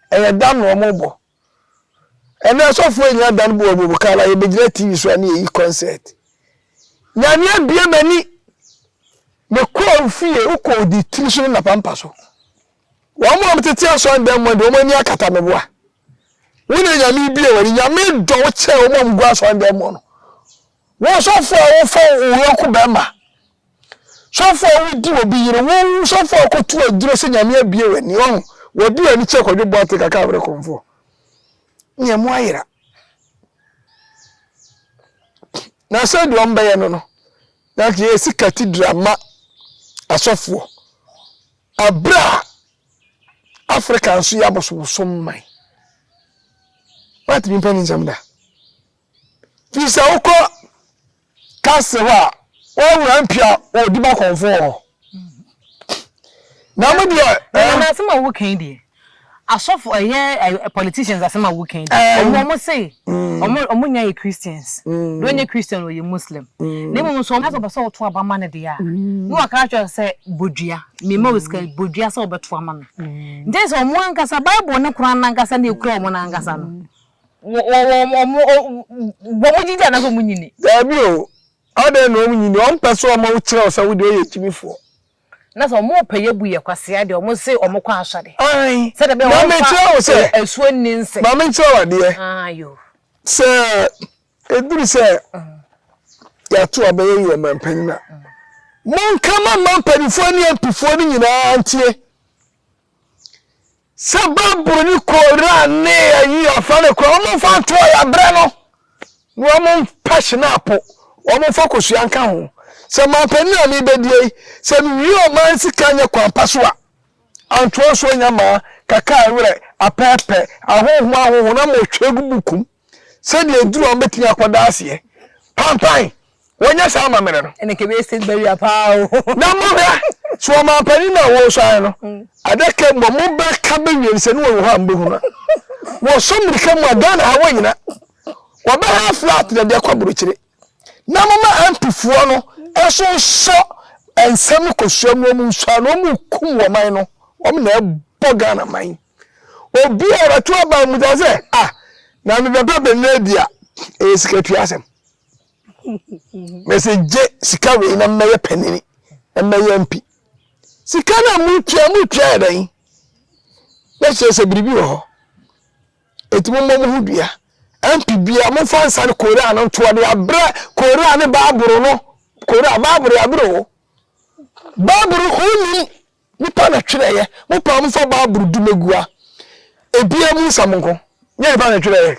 [SPEAKER 1] Ɛyɛ dan na ɔmo bɔ. Ɛnɛ asɔfoɔ nyinaa dan bɔ ɔmo mu kaa na yɛbɛgyina TV so a ne yɛyi concert. Nyame abue m'ani. Me kɔɔ fie, wo kɔ odi tiri so ne napampa so. Wɔn mo a ɔmo tete asɔn dan mu de ɔmo ani akata me boa. Wo na Nyame ebue w'ani. Nyame dɔ wo kyɛn ɔmo a ɔmo gu asɔn dan mu no. Wo ɔsɔfoɔ a wo fa wo yɔnko bɛɛma Sɔfo a odi obi yere, woo sɔfo a ɔkɔto aduro sɛ Nyame abue w'ani, wahu, wadi w'ani kyerɛ Kwadwo Boateng aka abrɛ kɔmfoɔ. Nea emu ayera. Na sɛ deɛ ɔmbɛyɛ no no, na nka yɛsi cathedral ma asɔfoɔ. Abrɛ a Africa nso yɛ abosobosom man. What nipa ni nsɛm da. Firi sɛ wokɔ kase hɔ a wɔawura mpia wɔ di ba kɔnfoɔ hɔ na mo deɛ ɛɛ. na asɛm a wo kan
[SPEAKER 3] deɛ asɔfo ɛyɛ politicians asɛm a wo kan deɛ ɔmo ɔmo se ɔmo ɔmo nya yɛ christians deɛ ɔnyɛ christian ɔyɛ muslim na emu nso ɔmo sɛ ɔbɛsɛ ɔto aba ma ne deɛ a na wakra kyerɛ sɛ bodua mema wo sika bodua sɛ ɔbɛto ama no nti sɛ ɔmo ankasa bible ne koran nankasa na ekura ɔmo nankasa no. Wɔ wɔ wɔ wɔn o wɔn gyidi anaasɛ wɔn nyini. Daabi o,
[SPEAKER 1] adɛn na wɔn nyini? Wɔn pɛ sɛ wɔn ma wo kyerɛ wo sɛ wo deɛ woyɛ gyimifoɔ. Na sɛ wɔn
[SPEAKER 3] pɛ yɛ bu yɛ kwasea deɛ wɔn se wɔn kɔ asɔre. Ae, Sɛdeɛ bɛyɛ wɔn mfa
[SPEAKER 1] mamekyerɛ
[SPEAKER 3] wo sɛ, e
[SPEAKER 1] asuo nni nse. ma
[SPEAKER 3] menkyerɛ wo adeɛ,
[SPEAKER 1] Ae o.
[SPEAKER 3] sɛ
[SPEAKER 1] ɛduru sɛ yɛato aba yɛyi ɔmanpanin a, monka ma mma mpanimfoɔ ne mp foɔ no nyinaa ntie. Sɛ Bible no kɔɔra ne ayi afa no kora, wɔn mfa ntoɔ yɛ abrɛ no, na wɔn mpa hyenapo, wɔn mfa kosua nka ho. Sɛ manpanin a mebɛdie yi, sɛ mewie o man sika nyɛ kwan pa so a, antoɔ nso nya maa, kaka awerɛ, apɛɛpɛ, ahonho ahonho na motwe gu bukum. sɛdeɛ aduru a wɔbɛtumi akɔ daaseɛ pampan wɔnyɛ saa amammerɛ no ɛne kɛbɛyɛ state barrier paa
[SPEAKER 3] o na mohwɛ
[SPEAKER 1] so ɔmampanin no a wɔresan no mm. adaka mu ɔmo bɛka bɛwie no sɛ ne wɔwɔ hɔ a mbɛhu no wɔsɔ mmirika mu a ghana ha wɔnyina wɔbɛha flat na de akɔ aburokyire na moma ampifoɔ no ɛso nsɔ nsɛm no kɔsua mu ɔmo nsua na ɔmo kum wɔman no ɔmo na ɛbɔ ghana man Obi a ɔbɛto aba mu da sɛ, ah, na mebɛba bɛnɛ di a, ɛyɛ sikatua asɛm. Mɛsɛ gye sika wei na mmɛyɛ panini, na mmɛyɛ mpi. Sika no a motua, motua yɛ dɛn? Na kyerɛ sɛ biribi wɔ hɔ. Enti mommɔ mo ho dua. MP bia momfa nsa no Korea no ntoɔ de abrɛ Korea ne Baaboro no. Korea, Baaboro yɛ abrɛ o. Baaboro ho nim Nnipa na twerɛeɛ, mopaa mo fa Bible dwumagua ebiara mu nsɛm nko. Nyɛ nnipa na twerɛeɛ.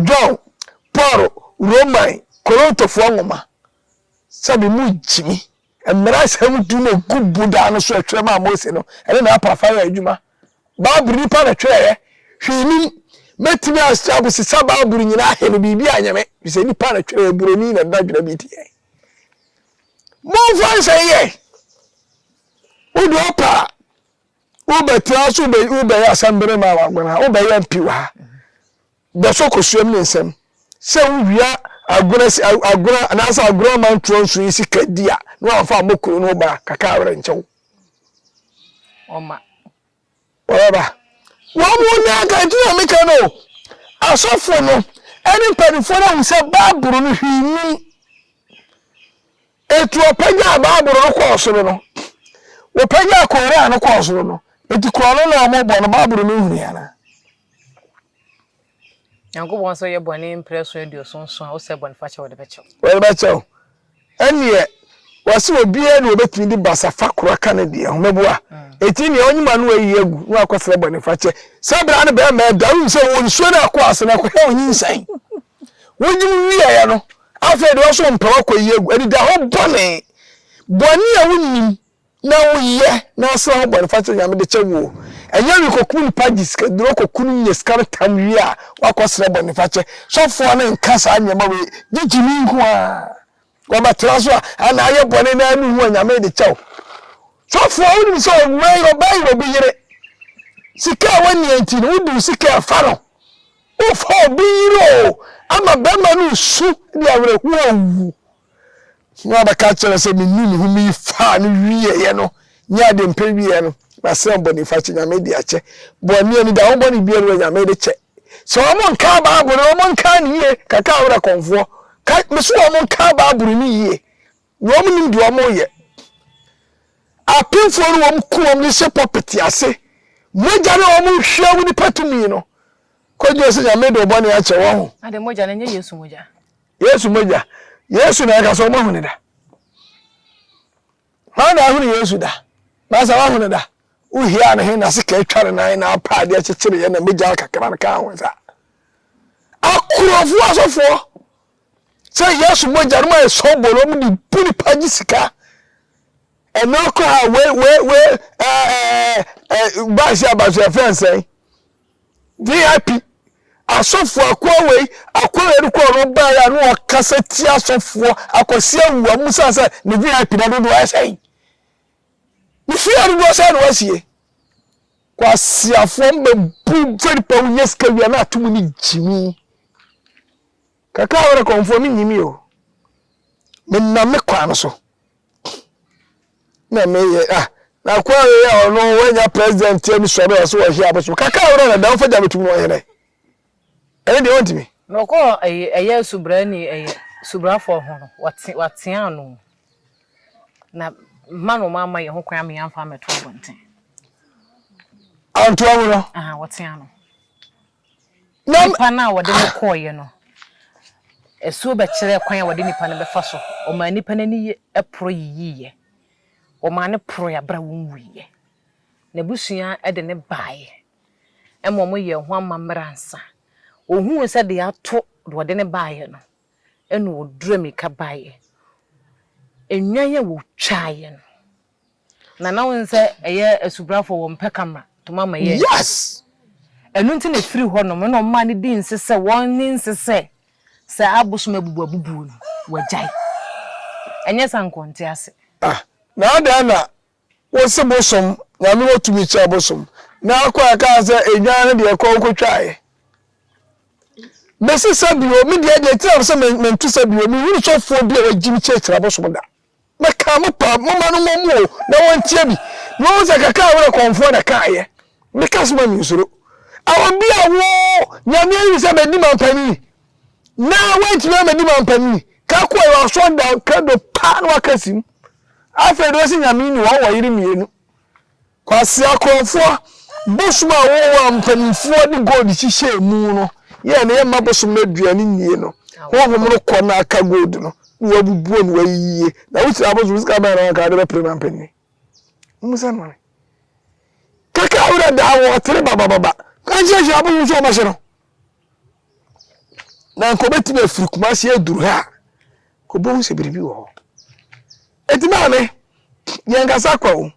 [SPEAKER 1] John, Paul, Roman, Korontofoɔ nwoma, sɛbi mo gyimi, mmara nsɛm du na ɛgu bodaa no so ɛtwerɛ maa Mose no, ɛne na apaafa yɛ adwuma. Bible nnipa na twerɛeɛ, hwee nim. Mɛtumi aseabosesa Bible nyinaa he no, biribi anyɛ me, firi sɛ nnipa na twerɛeɛ, buroni na dadwena bi teɛ. Momfa nsɛ yɛ. Wode ɔpɛ a wobɛtena so wobɛyɛ asɛmbere ma wagon ha, wobɛyɛ mpi wɔ ha. Bɛsɔ kosuam ne nsɛm sɛ wowia agona agona anaasɛ agorɔ amantoɔ nso yi sika di a na wamfa ammɔ kunu no ba kaka awerɛnkyɛw.
[SPEAKER 3] Ɔma.
[SPEAKER 1] Wɔbɛba. Wɔn mu na anka nti na meka no o. Asɔfo no ne mpanimfoɔ no ahu sɛ Bible no hwee nnim. Enti wɔpagyaa Bible no kɔɔ soro no. Wɔpagyaa Koran no kɔɔ soro no. Enti korɔ no na wɔbɔ no, Bible no nhunui anaa?
[SPEAKER 3] Nyankopɔn sɛ woyɛ bɔne mprɛso aduoson nson a, wosɛ bɔnefakyɛ a wɔde bɛkyɛ wo. Wɔde bɛkyɛ wo.
[SPEAKER 1] Ɛnneɛ, wɔse obiara ni obetumi de basafa koro aka ne deɛ ho. Mɛboa? Enti nea ɔnyim ano ayi agu na wakɔsrɛ bɔnefakyɛ. Saa berɛ no barima ɛda, wonim sɛ ɔwɔ nsuo no akɔ ase na akɔhwɛ wo nyinsɛn. Wonyim wieɛ no, afei deɛ ɔso ɔmpɛ wakɔyi agu. Anidahɔ bɔne. Bɔne a wonnim. Na wo yɛ na ɔsra ho bɔne fakyɛ onyame de kyɛ wo o ɛnyɛ we kɔkum nipa gye sika duro kɔku no nya sika no tam wie a wakɔ srɛ bɔne fakyɛ sɔfoɔ no nka saa nneɛma wei gye gyimi nko a wɔbɛ tra so a ana ayɛ bɔne na anu ho onyame de kyɛ wo sɔfoɔ wo nim sɛ ɔwɛ yɛ ɔbɛ yɛ obi yere sika a wɔnni nti no wodi sika ɛfa no wofa obi yere o ama bɛma no su de awerɛhoɔ wu Nea ɔbɛka akyerɛ no sɛ minuu me ho mii faa no wieeɛ no nyɛ ade mpɛ wieeɛ no, masrɛ bɔnefakyɛ, Nyame de akyɛ. Bɔne ani da, wo bɔne biara wɔ Nyame de kyɛ. Sɛ wɔn nkaa Bible no, wɔn nkaa no yie, kaka awerɛ kɔmfoɔ. Ka, mese wɔn nkaa Bible no yie, na wɔn nim deɛ wɔn yɛ. Apemfoɔ no wɔn ku wɔn de hyɛ pɔpete ase, mogya no wɔn hwia wo nipa tumi no, kɔdwene sɛ Nyame de ɔbɔne akyɛ wɔn. Na de mogya no nyɛ Yesu
[SPEAKER 3] mogya. Yesu mogya. Yesu na yɛka sɛ wɔahu
[SPEAKER 1] no da. Hwan na ahunu Yesu da? Na sɛ wahu no da, wohiaa ne he na sekaa atwa ne nan na apa adeɛ kyekyereeɛ na mogya kakra no kaa ho nsa. Akorɔfoɔ asɔfoɔ sɛ Yesu mogya no ma yɛ sɔbolo wɔn de bu nipa gye sika. Ɛnna koraa wei wei wei ɛɛ ɛɛ ɛɛ baasi abansi ɛfɛn sɛn. VIP, Asɔfoɔ akoa wei akoa wei no kɔɔ no baeɛ a na ɔkasa tia asɔfoɔ akwasi awu a mo sɛ sɛ ne VIP na dodoɔ ayɛ sɛn ne fie a dodoɔ sɛn na wasie kwasiafoɔ mbɛbu fɛnipa wo yɛ sika wia na ato mu ne gyimi Kakra a wɔda kɔmfoɔ me nnim yi o Me nam me kwan no so na me yɛ ah na akoa wei a ɔno wanya president tiɛ mi sɔre ɔso ɔhye abosom kakra a wɔda na dɛm fa gya bɛtum no ɔhene ɛne deɛ ɔntumi na ɔkɔ
[SPEAKER 3] ɛyɛ subra ni ɛyɛ subrafoɔ ho no watea ano na ma no ma ama yɛ ho kwan ama yɛn fa mɛto abɔnten
[SPEAKER 1] antoa mu no wɔtea no
[SPEAKER 3] Na nnipa no a wɔde no kɔeɛ no, asuo bɛkyerɛɛ kwan a wɔde nnipa no bɛfa so. Wɔmaa nnipa no ani poro yiyiiɛ. Wɔmaa no poroeɛ berɛ a wɔnwuiɛ. N'abusua de no baeɛ ma wɔyɛɛ ho amammerɛ ansa. Wɔhuu sɛ deɛ ato deɛ ɔde no baeɛ no, ɛnna ɔduruu mmirika baeɛ. Nnwan a wɔtwaeɛ no, Na na won sɛ ɛyɛ asubrafoɔ wɔ mpɛ ka ma to ma ma yɛ nti. Yes!
[SPEAKER 1] Ɛno nti na
[SPEAKER 3] ɛfiri hɔ nom na ɔmaa no dii nse sɛ won ne nse sɛ sɛ abosom abubu abubuo no wagyae. Ɛnyɛ sa nka ɔnte ase. Ah! Na adɛn
[SPEAKER 1] na wose bosom, Nyame wɔ tumi kyɛn bosom. Na akɔ a ɛkaa sɛ ɛdwan no deɛ kɔ nko twaɛ. Mesi sa bio, me deɛ deɛ nti na mese me nto sa bio, me hunu sɔfoɔ bi a wagyimi kyerɛkyerɛ abosom da. Meka mo pa, momma no mmɔ mo o, na wɔnteɛ bi, na wɔahu sɛ kakra a werɛ kɔmfoɔ na ɛkaeɛ. Meka so ma mensuro. Awɔ bi a wo, Nyame ayi wo sɛ bɛdi mampanini, na woantumi ammɛdi mampanini, ka kɔ wɔ asɔrdan, ka do paa na woaka si mu. Afei deɛ ɔse Nyame nni hɔ, wowɔ yere mmienu. Kwasea Korofoɔ, Bosom a wowɔ a mpanimfoɔ de gold hyehyɛɛ mu no yɛ a na yɛmma bosom no aduane nnie no, honhom no kɔ na aka gold no na wabubuo na wayiyie. Na wohyira bosom sika bɛn na wanka wode bɛpere ma mpanin? Mmusa no ma me. Kaka werɛ daa wo, ɔtere babababa. Ka nkyerɛ hyira bosom sɛ ɔmmɛhye no. Na nka obetumi afiri kumase aduru ha a kobohu sɛ biribi wɔ hɔ eti maame yɛn kasa kɔ o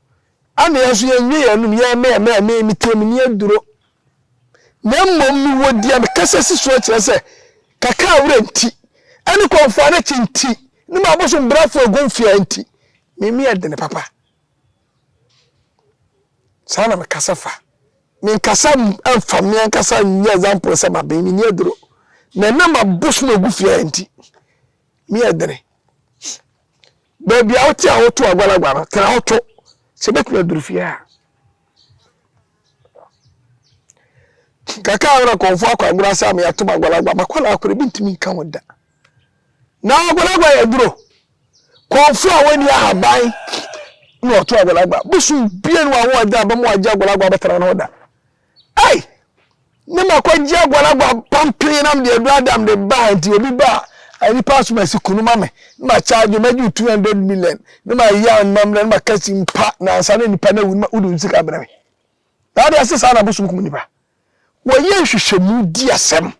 [SPEAKER 1] ana yɛn nso yɛn nwie yɛn num yɛn mɛɛ mɛɛ mɛɛ mi tie mi ni aduro na mmom mi wɔ di a mi kasa si so akyerɛ sɛ kaka awura nti ɛne kɔnfɔ anakyi nti ne ma abosom brafo egun fia nti mi mi ɛdini papa Saa na mekasa fa. Menkasa mfa me ankasa nyɛ example sɛ maben, menni aduro. Na ɛnam mabosom agu fie a nti, me yɛ dene. Baabi a wote a woto agwalagwa no, tena hɔ to. Sɛ bɛtumi aduru fie a. Kaka a wona kɔnfo akɔ agorɔ asa a meatom agwalagwa, makɔ na akɔrɛ bi ntumi nka ho da. Na agwalagwa yɛ duro. Kɔnfo a wɔnni ahaban na ɔto agwalagwa. Bosom bie no a wɔn agya abam agye agwalagwa abɛtena no da. Ei! Ne ma kɔgye agwalagwa pampee nam deɛ ɛdɔ adam de baa nti obi ba a nipa asom asi kunu ma me ne ma kyaagye ma gye 200 million ne ma yɛ anmammerɛ ne ma kasi mpa nansa ne nipa no awu ne ma wodu nsika brɛ me. Na ade ase saa na bosom kum nipa. Wɔyɛ nhwehwɛmu di asɛm.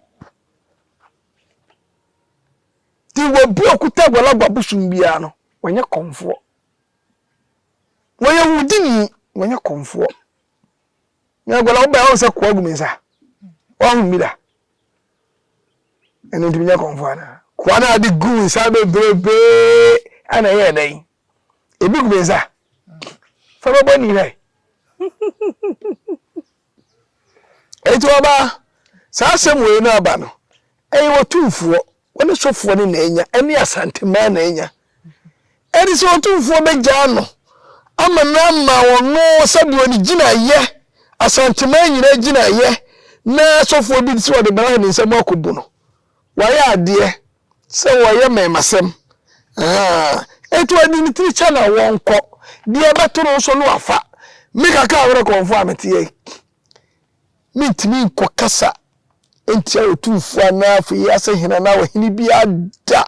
[SPEAKER 1] Nti wɔbi ɔkuta agbalagba bosom biara no, wɔnyɛ kɔmfoɔ. Wɔyɛ wudini, wɔnyɛ kɔmfoɔ. Na agbalagba wobɛa wɔn sɛ koa gu me nsa. Wɔahu bi da. Ɛno ntumi nyɛ kɔmfoɔ anaa? Koa no a de gu nsa bebrebe ana ɛyɛ dɛn? Ebi gu me nsa. Fa bɛbɔ ni hwɛ. Enti ɔbaa, saa asɛm wei no aba no, ɛyɛ Otumfoɔ, wo ne sofoɔ no na anya, ɛne Asantemaa na anya. Ɛde sɛ Otumfoɔ bɛgyaa no ama no ama ɔno sɛdeɛ ɔne gyinaeɛ, Asantemaa nyinaa gyinaeɛ, na sofoɔ bi sɛ ɔde bra ne nsam akɔbu no. Wayɛ adeɛ sɛ wɔyɛ mɛmasɛm ahaa enti wɔde ne tiri kyɛ na wɔnkɔ, deɛ ɛbɛto no nso no wafa. Me kakra a merekɔmfo a meteɛ yi, mentumi nkɔkasa ntia Otumfoɔ anaa afei yi ase hene anaa ɔhene biara da,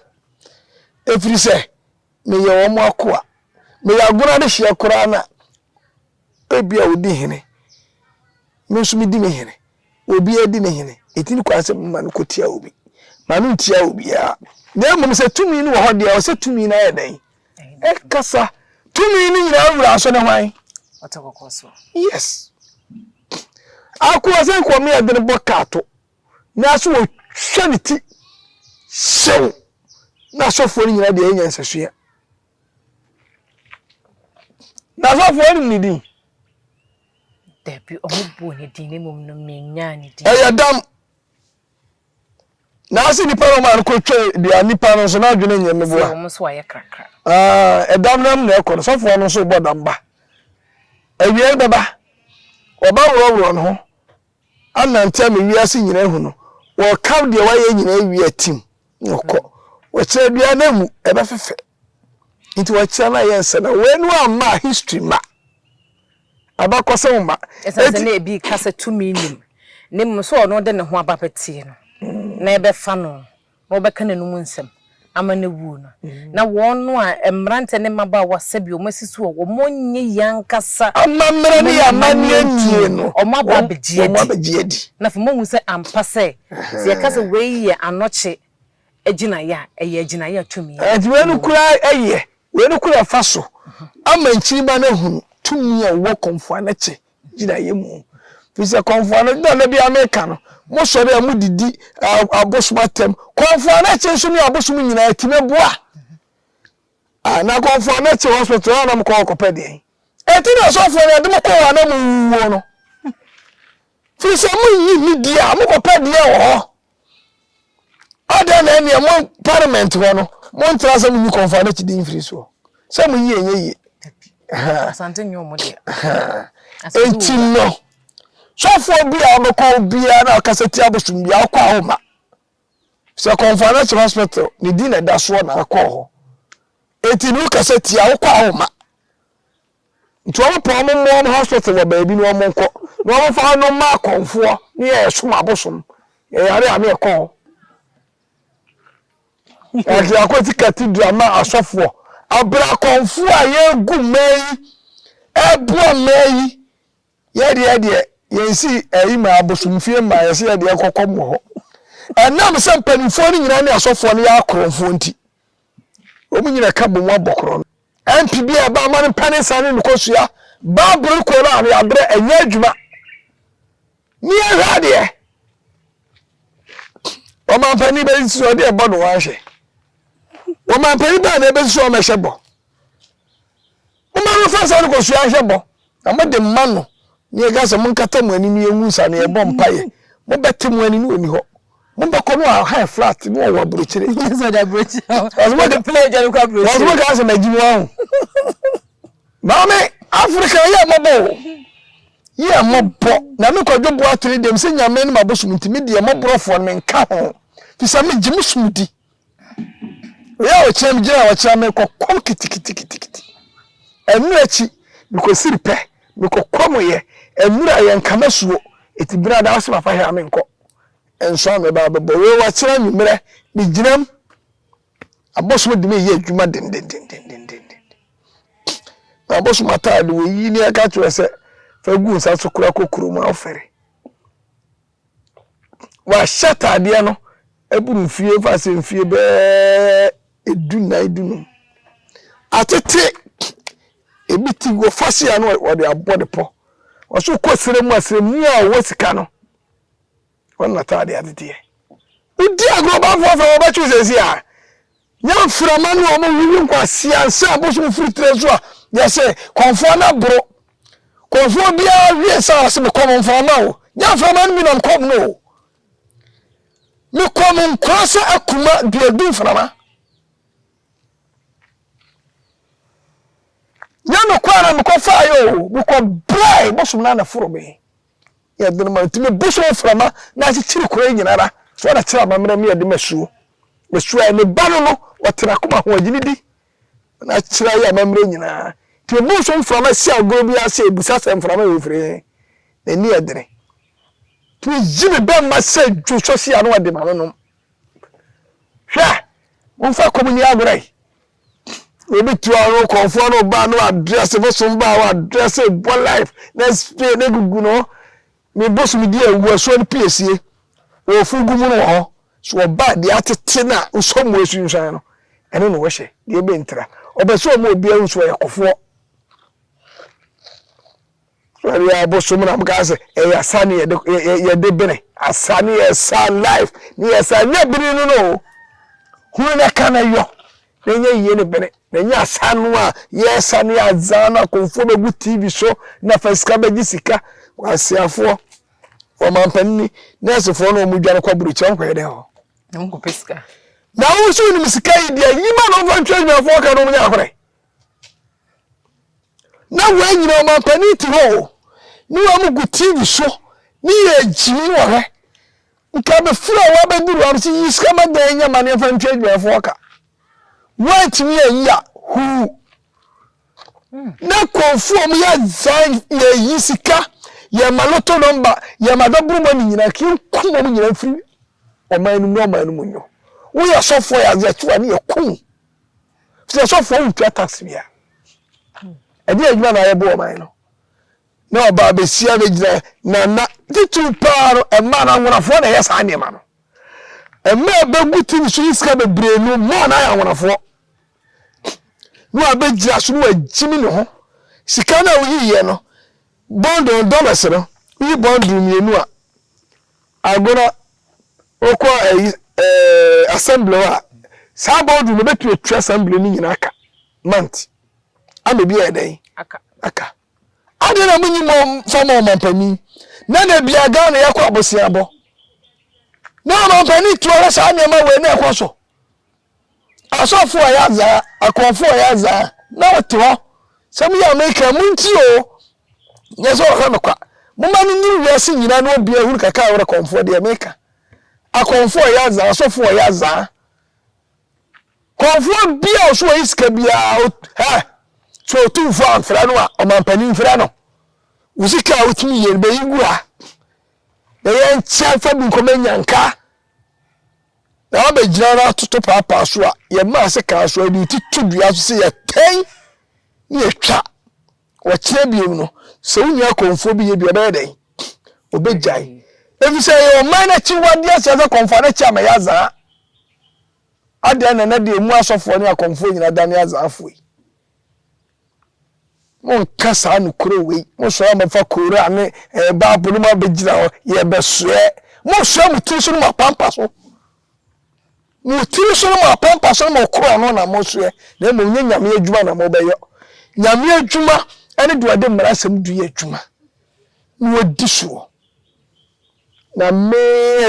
[SPEAKER 1] ɛfiri sɛ meyɛ wɔn akoa, meyɛ agono adehyeɛ koraa no a. Ebia wodi hene, me nso midi me hene. Obiara di ne hene. Enti ne kwan sɛ mema no kotia obi. Ma no ntia obiara. Na mmom sɛ tumi no wɔ hɔ deɛ, ɛwɔ sɛ tumi no ayɛ dɛn? Ɛkasa. Tumi no nyinaa wura nso ne hwan? Ɔte kɔkɔ so.
[SPEAKER 3] Yes.
[SPEAKER 1] Akoa sɛ nka wɔn yɛ den bɔ kaa to, nanso wɔhwɛ ne ti hyew. Na asɔfoɔ no nyinaa deɛ ɛyɛ nyansasu a. N'asɔfoɔ nim ne din.
[SPEAKER 3] Dabi, wɔn buu ne din, na mmom no menyaa ne din. Ɛyɛ dam.
[SPEAKER 1] Na ase nipa na wɔn a kɔtwa dua nipa no nso na adwene nyɛ meboa. Sɛ wɔn nso ayɛ krakra.
[SPEAKER 3] Ɛɛ ɛdam
[SPEAKER 1] no mu na ɛkɔ no sɔfoɔ no nso bɔ dam ba. Awia bɛba, wɔba worɔworɔ no ho Anantɛ me wiase nyinaa ahu no Wɔka deɛ wayɛ nyinaa awie atim na ɔkɔ Wɔkyerɛ dua no amu ɛbɛfefɛ nti wɔkyerɛ no ayɛ nsɛ na wei no amma a history mma Abakɔsɛm mma Ɛsiane sɛ na ebi ka
[SPEAKER 3] sɛ tumi nnim ne mmom sɛ ɔno de ne ho aba bɛteɛ no na ɛbɛfa no na wɔbɛka n'anom nsɛm ama no awu no, na wɔn a, mmeranteɛ ne mmabaawa, sɛdeɛ wɔn asi soɔ, wɔnyɛ yei ankasa amammerɛ ne
[SPEAKER 1] amanneɛ nnie no, wɔn aba
[SPEAKER 3] abɛgye adi, na afei moahu sɛ ampa sɛ, sɛ yɛka sɛ wei yɛ anɔkye agyinaeɛ a, ɛyɛ agyinaeɛ a tumi wɔ mu. Enti wei no koraa
[SPEAKER 1] yɛ, wei no koraa fa so ama nkyirimma no ahunu tumi a ɔwɔ kɔmfoa no kyɛ gyinaeɛ mu. Firi sɛ kɔmfoa no, na bia meka no, mosɔre a modidi abosom atam. Kɔmfoa no akyi nso ne abosom nyinaa ɛtumi boa. Ah, na kɔmfoa no akyi hospital a na mokɔ hɔ kɔpɛ deɛn? Ɛti na asɔfoɔ no ɛde mo kɔ hɔ a na mowuo no. Firi sɛ moyi ne di a mokɔpɛ deɛ wɔ hɔ. Adɛn na ɛneɛ mo parliament hɔ no mo ntra sɛ mo nyi kɔnfa no kyidi mfiri soɔ sɛ mo yie nyɛ yie
[SPEAKER 3] enti
[SPEAKER 1] no sɔfoɔ bi a ɔbɛkɔ obiara na ɔkasa ti abosom bi a ɔkɔ a ɔma sɛ kɔnfa no kyerɛ hospital ne di na ɛda soɔ na akɔ hɔ enti no kasa ti a ɔkɔ a ɔma Nti wɔn pɛ wɔn mmɔ wɔn hospital wɔ baabi na wɔn nkɔ na wɔn fa wɔn mma akɔnfoɔ ne yɛ ɛsom abosom ɛyare a ne ɛkɔ hɔ. Ɛdi akɔ ti cathedral ma asɔfoɔ abira akɔnfoɔ a yɛgu mmaa yi ɛboa mmaa yi yɛde ɛdeɛ yɛn si ɛyi ma abosom fie mmaa yɛsi yɛde ɛkɔkɔ mu hɔ ɛnam sɛ mpanimfoɔ ne nyinaa ne asɔfoɔ ne yɛ akorɔnfoɔ nti. Wɔn nyina ka bɔ mu abɔ korɔn. MP bi a ɛba ama no mpɛ ne nsa ne no kɔsua Bible kɔ no a ne aberɛ ɛnyɛ adwuma. Ne ɛhwɛ adeɛ. Ɔmampanin bɛyi nso ɔde ɛbɔ no ahwɛ. Ɔmampanin bɛɛ na ɛbɛsi so ɔmɛhyɛ bɔ. Momma no mfa nsa no kɔsoɛ ahwɛ bɔ, na mode mma no, na yɛka sɛ, Monkata mo ani na yɛngu nsa na yɛbɔ mpaeɛ. Mobɛte mo ani na ɔnni hɔ. Mobɛkɔ na ɔwɔ high flat na ɔwɔ aburokyire. Yesu ɔde aburokyire
[SPEAKER 3] hɔ. Wɔn mo de pere agya no kɔ aburokyire. Wɔn mo kaa sɛ magyi mu ahu.
[SPEAKER 1] Maame Afrika yɛ mmɔbɔ o. Yɛ mmɔbɔ. Na me kwadwo boa tiri deɛ, me sɛ nyame ne mabosom nti, me deɛ mmɔborɔfoɔ no menka ho. Fi sɛ megye me som di. Bea a ɔkyerɛ me gyina a ɔkyerɛ me kɔ kɔm kitikitikiti. Ɛno akyi mekɔsiri pɛ mekɔ kɔm yɛ ɛnura yɛ nkama suo ɛti bena daa ɔsɛ papa hɛ a me nkɔ nso a me ba bɛbɔ wei wakyerɛ nwummerɛ me gyinam abosom de me yɛ adwuma dendendendendenden na abosom ataade wei yi ni ɛka kyerɛ sɛ fɛ gu nsa so kora kɔ kurom afɛre Wɔahyɛ ataadeɛ no aburu mfeɛ mfa sɛ mfeɛ bɛɛ du nnan du num. Atete ebi ti wɔ fahyɛ a na wɔde abɔ ne pɔ. Wɔso kɔ serɛ mu a serɛmuni a ɔwɔ sika no ɔno na ataadeɛ ateteɛ. Wodi agorɔ bamfoɔ afɛ wɔbɛtwe sɛsi a Nya mframa ne wɔn wiwi nkwa sia nsa abosom firi tire so a yɛ se kɔmfoɔ no aboro kɔmfoɔ biara wie sa ɔse me kɔm mframa o nya mframa no bi nam kɔm no o me kɔm nkwa sɛ akuma duadu mframa nya me kɔ ara me kɔ faayɛ o me kɔ brae bosom no anaforo me yɛ den ma no nti mebɔ so mframa na akyekyere kuro yi nyinara so ara kyerɛ amammerɛ mu yɛ den ma suo na suo ayɛ ne ba no no ɔte n'akoma ho agyini di na akyerɛ ayɛ amammerɛ nyinaa nti mebɔ so mframa si agorɔ bi ase ebusa sɛ mframa yɛ ofiri he na ani yɛ dene nti meyi me bɛn ma sɛ dwo so si ano ɔde ma no nom hwɛ momfa kɔm ni agorɔ yi obi to ano kɔnfoɔ no ba no address bosom ba wɔ address bɔ life na spray na gugu no ne bosom di awu asuo no piesie wɔfu gu mu no wɔ hɔ so ɔba deɛ atete na wosɔ mu asunsuan no ɛno na wɔhyɛ deɛ ɛbɛntira ɔbɛ sɛ ɔma obiara nsuo yɛ kɔfoɔ Ɔyɛ abosom na mokaa sɛ ɛyɛ asa ne yɛde bene. Asa ne yɛ sa life ne yɛ sa nyɛ bene no no o. Hunu ne ka ne yɔ ne nyɛ yie ne bene. Na ɛnyɛ asa no a yɛsa ne adza no akomfoɔ bɛgu TV so na fa sika bɛgye sika. Kwaseafoɔ, ɔmampanin ni, nɛɛsefoɔ na wɔn dwane kɔ aburokyire wɔn kɔyɛ dɛn hɔ? Na wɔn kɔpɛ sika.
[SPEAKER 3] Na wo nso
[SPEAKER 1] wonim sika yi deɛ nyima na wɔmfa ntwa adwumafoɔ ka na wɔn nyɛ ahorɛ. na wei nyina ɔmampanin te hɔ o ne wɔn gu tv so ne yɛ gyimi wɔ hɛ nka bɛfiri a wɔabɛduru am sɛ yi sika ma dan nya ma neɛfa ntwa adwumayɛfoɔ ka woantumi ayi a huu na kɔnfoɔ mu yɛ zan yɛyi sika yɛma loto nɔmba yɛma dɔboro mɔ ne nyina nka yɛnku wɔn nyina mfiri ɔman no mu ne ɔman no mu nyɔ woyɛ sɔfoɔ yɛ adeɛ kyewa ne yɛkum sɛ sɔfoɔ ntua tax bia ɛde adwuma na ayɛbɔ ɔman no na ɔba abɛsia bɛgyina na na titiri paa no ɛmaa no anwonafoɔ na ɛyɛ saa nneɛma no ɛma ɛbɛgu tv so yi sika bebree no maa no ayɛ anwonafoɔ na wabɛgyina so na wagyimi ne ho sika no a woyiiɛ no bɔndɔn dollars no woyi bɔndoro mmienu a Agona, wokɔ ayi ɛɛ assembly hɔ a, saa boardroom no bɛtumi atwa assembly no nyinaa ka month ama bi ayɛ dɛn? Aka. Aka. Adeɛ na monyi mo fa ma ɔmampanin na da bia Ghana yɛkɔ aboseabɔ na ɔmampanin tu ara saa nneɛma wei na ɛkɔ so. Asɔfo a yɛadze a, akɔmfo a yɛadze a, na wɔtse hɔ. Nsɛm yi a mereka yi, muntsie o, nnyɛ dɛ ɔka no kwa. Momma no nyim wiase nyina na obiara nhu no kakra a ɔwɔ akɔmfo hɔ, dza mereka. Akɔmfo a yɛadze a, asɔfo a yɛadze a, kɔmfowa biara a ɔso onnyi sika biara, ot, hɛ, sɛ otumfo ammfrɛ no a, ɔmampanyin mfrɛ no. Wo sika a wotumi yie no, bɛyi gu ha, na yɛnkyɛ mfa bi nkɔma enyanka. Na wabɛgyina no atoto paapaa so a yɛma ase kaa so a yɛde ti to dua so sɛ yɛtɛn ne yɛtwa. Wɔkyerɛ biom no, sɛ wo nua kɔmfoɔ bi yɛ bi ɔbɛyɛ dɛn? Ɔbɛgyae. Ɛfiri sɛ ɛyɛ ɔman no akyiwadeɛ aseɛ sɛ kɔmfoɔ no akyi ama yɛ azaa. Adɛn na ɛnɛ deɛ ɛmu asɔfoɔ ne akɔmfoɔ nyina dane azaafoɔ yi? Monka saa nokorɛ wei, monsɔre a momfa Koran ne eh, Bible no mu abɛgyina hɔ, yɛbɛsoɛ. Monsoɛ mo tiri so no mo apampa so. Mo tiri so no mo apampa so no mo korɔn no na monsoɛ, na mmom nyɛ Nyame adwuma na mobɛyɔ. Nyame adwuma ɛne deɛ ɔde mmara nsɛm du yɛ adwuma na ɔdi soɔ. Na me,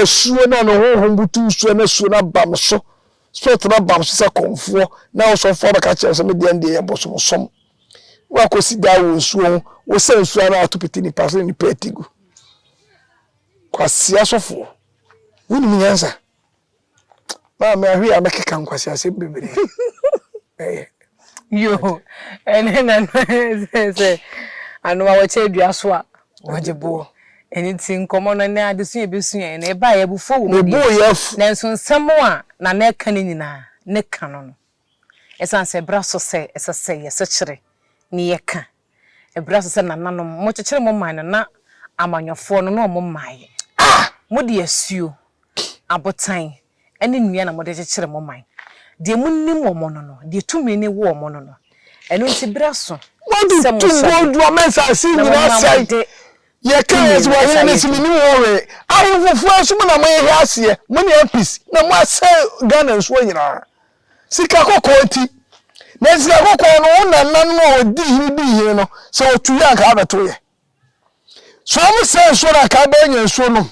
[SPEAKER 1] asuo no a ne honhom butuw soɔ no asuo no aba me so, Spirit no aba me so sɛ kɔmfoɔ, na ɔsomfoɔ abɛka kyerɛ me sɛ, Medeɛ ndeɛ yɛ bosomsom. Woakɔsi daa wɔ nsuo ho, wosɛ nsuo ano ato pete nnipa so ne nnipa atigu. Kwasea sɔfoɔ, wonim nyansa? Maame ahwe a mɛkeka nkwaseasɛm bebree ɛyɛ.
[SPEAKER 3] Yoo ɛne na no sɛ sɛ ano a wɔkyɛ dua so a wɔgye boɔ. Ɛne ti nkɔmɔ no ne adesu yɛ bɛsu yɛ na ɛba yɛ abufuo wɔ mu deɛ. Nanso
[SPEAKER 1] nsɛm a
[SPEAKER 3] na na ɛka ne nyinaa ne ka no no. Ɛsan sɛ ɛbra so sɛ ɛsɛ sɛ yɛsekyere ne yɛka Ɛberɛ so sɛ nananom mo kyekyere mo man no na amanyɔfoɔ no na wɔn mmaeɛ. Mo de asuo, abotan, ne nnua na mo de kyekyere mo man. Deɛ mo nnim wɔn no no, deɛ tumi no wɔ wɔn no no. Ɛno nti berɛ aso sɛ mo
[SPEAKER 1] hyɛde na mo ma mo de tumi no ɛsa yɛ adwuma. Ahemfo foɔ nso mo na mo hwehwɛ aseɛ, mo ne apis na mo asɛe Ghana nsuo nyinaa. Sika kɔkɔɔ nti. Na sika kɔkɔɔ no, wo nananom a wɔdii hene dii hene no, sɛ wɔtuiɛ a anka abɛtoeɛ. So wɔsɛe nsuo no a anka abɛyɛ nya nsuo nom.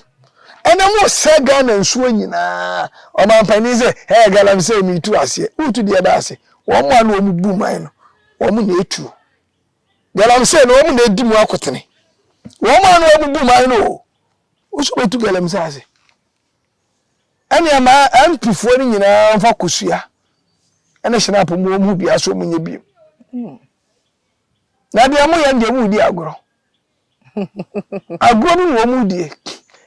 [SPEAKER 1] Ɛnɛ mosɛe Ghana nsuo nyinaa. Ɔmanpanin sɛ, Ɛɛ galamsey meretu aseɛ. Woretu deɛ bɛn ase? Wɔn a na wɔbu man no, wɔn na ɛtuo. Galamsey no, wɔn na ɛdi mu akotene. Wɔn a na wɔbubu man no o. Wo nso wobɛtu galamsey ase. Ɛnneɛ ma MP foɔ no nyinaa mfa kosua ne snap mu wɔn ho bia so wɔn nyɛ biem na deɛ mo yɛ deɛ mo di agorɔ agorɔ bi na wɔn mo die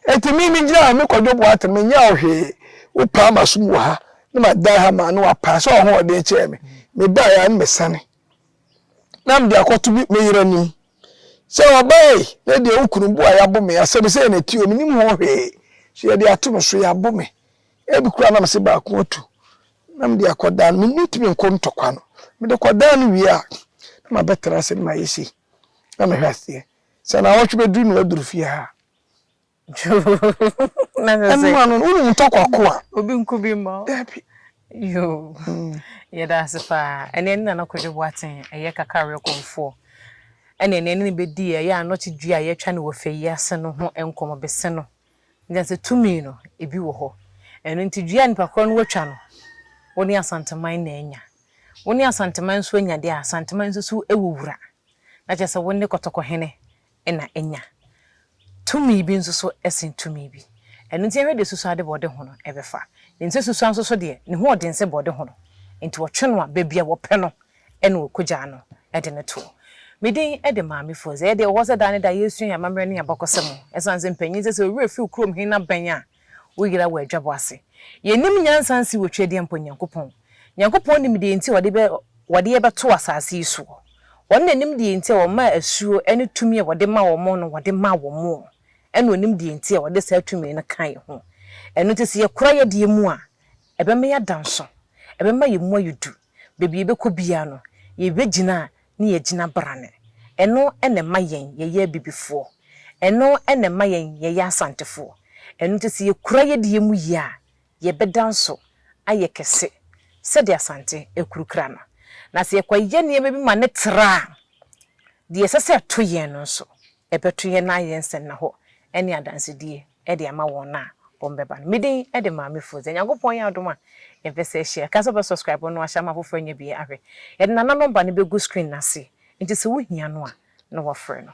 [SPEAKER 1] eti mi mi gyina mi kɔdwo bo ate mi nyɛ ɔhwee wo paa ma so mu wɔ ha ne ma dan ha ma ne wa paa sɛ ɔho ɔden kyɛɛ mi mi ba ya ne mi sane. na mede akɔto me me yere anim sɛ ɔbaa yi na deɛ wo kunu bu a yɛabo me asɛm sɛ na ti o menim ho hwee so yɛde ato no so yɛabo me ebi koraa na mese baako atu na mede akɔdaa no mentumi nkɔ ntɔkwa no mede kɔdaa no wie a na mabɛtena ase no mayɛ sei na mehwɛ aseɛ sɛ na awɔtwe bɛduru no aduru fie ha
[SPEAKER 3] Na
[SPEAKER 1] kyerɛ sɛ. Ɛnoa no no, wonim
[SPEAKER 3] ntɔkwa ko
[SPEAKER 1] a. Obi nko
[SPEAKER 3] bi mma wo.
[SPEAKER 1] Dabi.
[SPEAKER 3] Yoo. Yɛda ase paa. Ɛnɛ ɛne Nana Kwadwo Boateng ɛyɛ Kakra Awerɛkɔmfoɔ ɛne ɛnɛ ɛne no bɛdi yɛ ɛyɛ anɔkye dua a yɛatwa no wɔ fɛ yi ase no ho nkɔmmɔ bɛse no. Ɛnkyɛ sɛ tumi no ebi wɔ hɔ. Ɛno nti dua a nipa korɔ no watwa no, wo ne Asanteman na anya. Wo ne Asanteman nso anya deɛ a, Asanteman nso so wɔ wura. Na kyerɛ sɛ wo ne Kɔtɔkɔhene na anya. Tumi bi nso so sen tumi bi. Ɛno nti yɛhwɛ deɛ susuade bɔɔde ho no bɛfa. Nim sɛ susua nso so deɛ, ne ho ɔden sɛ bɔɔde ho no. Enti wɔtwe no a, baabi a wɔpɛ no na wɔkɔgyaa no de no toɔ. Me din de Maame Foze. Ɛyɛ deɛ ɛwɔ hɔ sɛ da ne da yɛsua yɛn amammerɛ ne yɛn abakɔsɛm. Ɛsiane sɛ mpanin sɛ sɛ wo werɛ fi wo kurom he na bɛn a, Wo yera wɔ adwabɔ ase. Yɛnnim nyansa nsi wɔ Twedeɛ mpo Nyankopɔn. Nyankopɔn nim deɛ nti a Ɔde bɛ, Ɔde yɛ bɛto asaase yi soɔ. Ɔno na Onim deɛ nti a Ɔmaa asuo ne tumi a Ɔde ma wɔn no Ɔde maa wɔn. Ɛna Onim deɛ nti a Ɔde saa tumi no kaa yɛn ho. Ɛno nti sɛ yɛkora yɛdeɛ mu a, ɛbɛma yɛada nso. Ɛbɛma yɛn mu ayɛ du. Baabi yɛbɛkɔ biara no, yɛbɛgyina a ne yɛagyina brane. Ɛno na ɛma yɛn yɛyɛ Abibifoɔ. Ɛno na ɛma yɛn yɛyɛ Asantefoɔ. Ɛno nti sɛ yɛkura yɛn deɛ mu yie a, yɛbɛda nso ayɛ kɛse sɛdeɛ Asante akurukura no. Na sɛ yɛkɔyɛ nneɛma bi ma no tra a, deɛ ɛsɛ sɛ ɛto yɛn no nso, ɛbɛto yɛn na ayɛ nsɛnnahɔ ne adansedie. de ama wɔn a wɔbɛba no. Me din de Maame Fodze. Nyankopɔn yɛ adom a yɛbɛsa ahyia. Ka sɛ wobɛ subscribe no ahyɛ ama afoforɔ anya bi ahwɛ. Yɛde Nana nɔmba no bɛgu screen no ase nti sɛ wohia no a na wɔafrɛ no.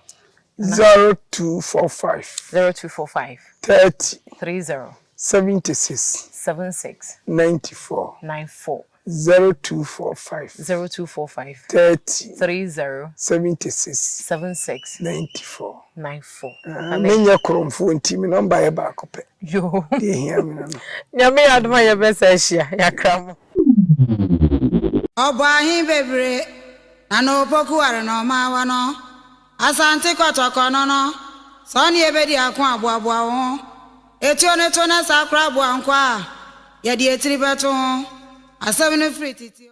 [SPEAKER 3] Zero two four five. Zero two four five. Thirty. Three zero.
[SPEAKER 1] Seventy six. Seven six. Ninety four. Nine four. Zero two four five. Zero two four five. Thirty. Three zero. Seventy six. Seven six. Ninety four. Nine four. Ah, me nyɛ koromfoɔ nti me nɔmba yɛ baako pɛ. Yoo. Deɛ ehia
[SPEAKER 3] me no no.
[SPEAKER 1] Nyame yɛ adoma yɛ
[SPEAKER 3] bɛ saa hyia yakra mo.
[SPEAKER 2] Ɔbɔɔ ahe bebree, na na opokuware na ɔmaawa no. Asante Kɔtɔkɔ no no, sɛ wo ne yɛ bɛdi ako a, boaboa wo ho. Etuo no to na saa koraa boa nkoa a yɛde etiri bɛto ho. Asɛm no firi titio.